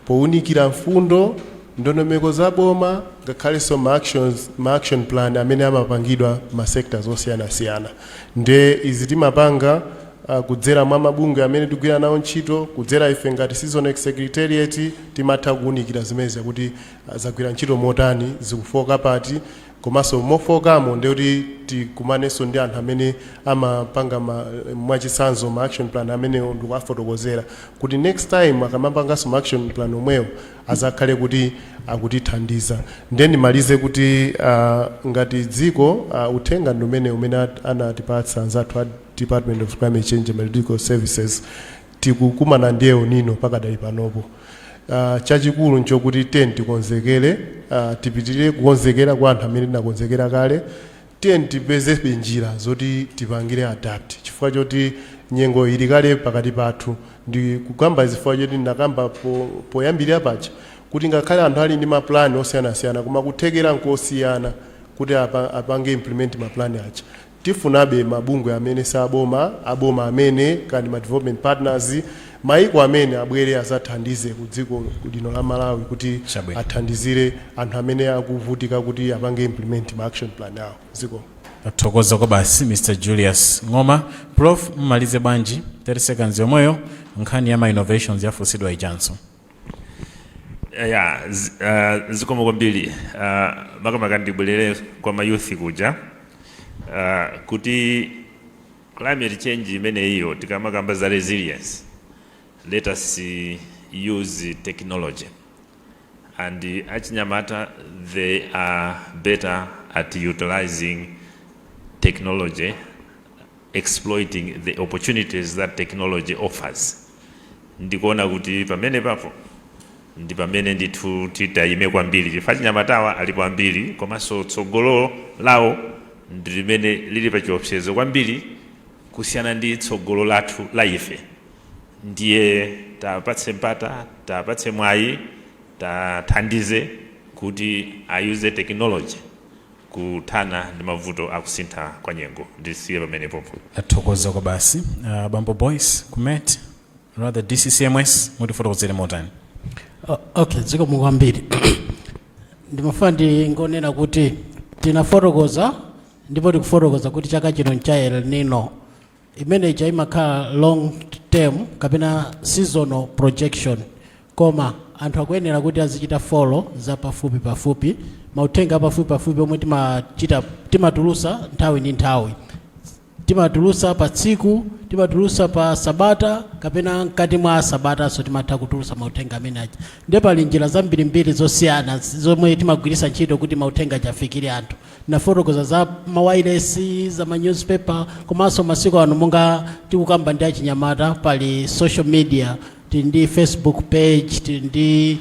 pounikira mfundo, ndondomeko za boma ngakhalenso ma actions, ma action plan amene amapangidwa ma sectors osiyanasiyana. Nde izi timapanga uh, kudzera mwa mabungwe amene tigwira nawo ntchito, kudzera ife ngati CISONECC secretariat timatha kuunikira zimene zakuti uh, zagwira ntchito motani, zikufooka pati, komanso mofookamo ndiye kuti tikumanenso ndi anthu amene amapanga ma, mwachitsanzo ma action plan amenewo ndikuwafotokozera kuti next time akamapanganso ma action plan omwewo azakhale kuti akutithandiza ndiye ndimalize kuti ah, ngati dziko ah, uthenga ndi umene umene at- anatipatsa anzathu a department of climate change and meteorological services Tikukumana ndi El Nino pakadali panopo. Chachikulu n'chokuti tiyeni tikonzekere, tipitirire kukonzekera kwa anthu amene tinakonzekera kale. Tiyeni tipeze njira zoti tipangire adapt chifukwa choti nyengo ili kale pakati pathu. Ndikukamba izi chifukwa choti ndinakamba poyambirira paja kuti ngakhale anthu ali ndi mapulani osiyanasiyana koma kuthekera n'kosiyana kuti apange implement mapulani aja. Tifunabe mabungwe amene si aboma, aboma amene, kaya ndi ma development partners, maiko amene abwere azathandize ku dziko lino la Malawi kuti athandizire anthu amene akuvutika kuti apange implement ma action plan awo. Zikomo. Tathokoza kwabasi Mr Julius Ng'oma. Prof mmalize bwanji 30 seconds yomweyo nkhani ya ma innovations yafunsidwa ijanso. ya zi- ah, zikomo kwambiri Ah, makamaka ndibwerere kwa ma youth kuja Ah, kuti climate change imeneyiyo tikamakamba za resilience let us eh, use technology and eh, achinyamata they are better at utilizing technology exploiting the opportunities that technology offers ndikuona kuti pamenepapo ndi pamene ndithu titayime kwambiri chifukwa achinyamatawa alipo ambiri komanso tsogolo lawo ndi limene lili pa chiopsezo kwambiri kusiyana ndi tsogolo lathu la ife ndiye tapatse mpata tapatse mwayi tathandize kuti ayuze technology kuthana ndi mavuto a kusintha kwa nyengo. Ndisiye pamene popo. Tathokoza kwabasi. Uh, Bambo Boyce ku met rather DCCMS mutifotokozere motani? O- okay zikomo kwambiri ndimafuna ndingonena kuti tinafotokoza ndipo tikufotokoza kuti chaka chino ncha el nino imene ija imakhala long term kapena seasonal projection koma anthu akuyenera kuti azichita follow za pafupi pafupi mauthenga apafupi pafupi omwe timachita timatulusa nthawi ndi nthawi timatulusa pa tsiku timatulusa pa sabata kapena mkati mwa sabatanso timatha kutulusa mauthenga amene aja ndiye pali njira zambirimbiri zosiyana zomwe timagwiritsa ntchito kuti mauthenga aja afikire anthu Tinafotokoza za mawailesi, za ma news paper, komanso masiku ano monga tikukamba ndi achinyamata pali social media, tili ndi Facebook page, tili ndi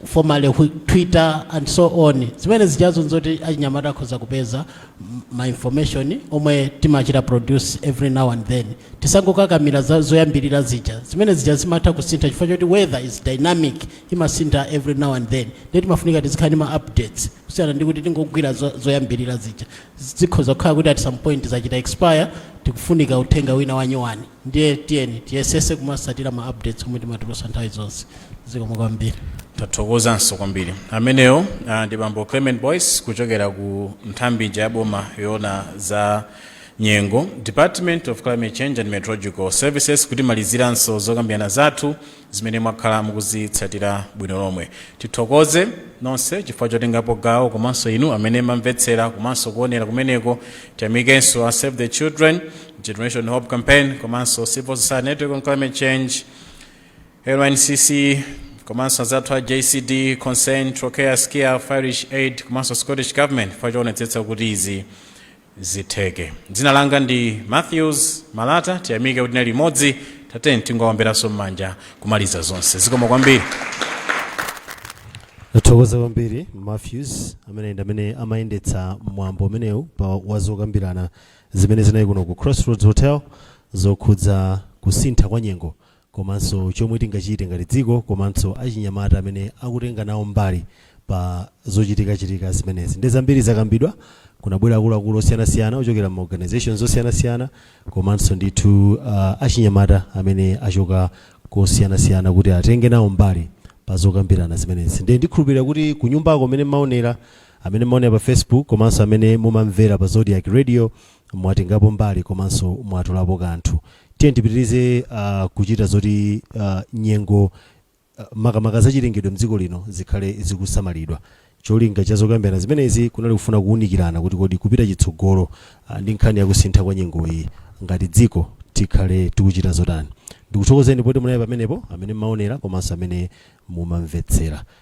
formerly whi- Twitter and so on. Zimene zijazo nzoti achinyamata akhoza kupeza m- ma information omwe timachita produce every now and then. Tisangokakamira za zoyambirira zija. Zimene zija zimatha kusintha chifukwa choti weather is dynamic, imasintha every now and then. Ndiye timafunika tizikhala ndi ma updates. kusiyana ndi kuti tingogwira zo, zoyambirira zija zikhoza kukhala kuti at some point zachita expire tikufunika uthenga wina wanyuwani ndiye tiyeni tiyesese kumatsatira ma updates omwe timatulutsa nthawi zonse zikomo kwambiri tathokozanso kwambiri ameneyo uh, ndi bambo Clement Boyce kuchokera ku nthambi ija ya boma yoona za nyengo department of climate change and meteorological services kutimaliziranso zokambirana zathu zimene mwakhala mukuzitsatira bwino lomwe tithokoze nonse chifukwa chotengapo gawo komanso inu amene mumamvetsera komanso kuonera kumeneko tiyamikenso a save the children generation hope campaign komanso civil society network on climate change LNCC komanso azathu a JCD Concern Trocaire SCIAF Irish Aid komanso Scottish Government chifukwa choonetsetsa kuti izi zitheke. Dzina langa ndi Mathews Malata tiyamike kuti tinali limodzi tatiyeni tingoomberanso mmanja kumaliza zonse zikomo kwambiri. Tathokoza kwambiri Mathews amene ndi amene amayendetsa mwambo umenewu pa wazokambirana zimene zinali kuno ku Crossroads Hotel zokhudza kusintha kwa nyengo komanso chomwe tingachite ngati dziko komanso achinyamata amene akutenga nawo mbali pa zochitikachitika zimenezi. Nde zambiri zakambidwa, kunabwera akuluakulu osiyanasiyana ochokera m'ma organisations osiyanasiyana komanso ndithu achinyamata amene achoka kosiyanasiyana kuti atenge nawo mbali pa zokambirana zimenezi. Nde ndikhulupirira kuti kunyumbako amene mmaonera, amene mmaonera pa Facebook komanso amene mumamvera pa Zodiak Radio mwatengapo mbali komanso mwatolapo kanthu tiyeni tipitirize uh, kuchita zoti uh, nyengo uh, makamaka zachilengedwe mdziko lino zikhale zikusamalidwa cholinga cha zokambirana zimenezi kunali kufuna kuwunikirana kuti kodi kupita chitsogolo uh, ndi nkhani yakusintha kwa nyengo iyi ngati dziko tikhale tikuchita zotani ndikuthokozeni poti munali pamenepo amene mmaonera komanso amene mumamvetsera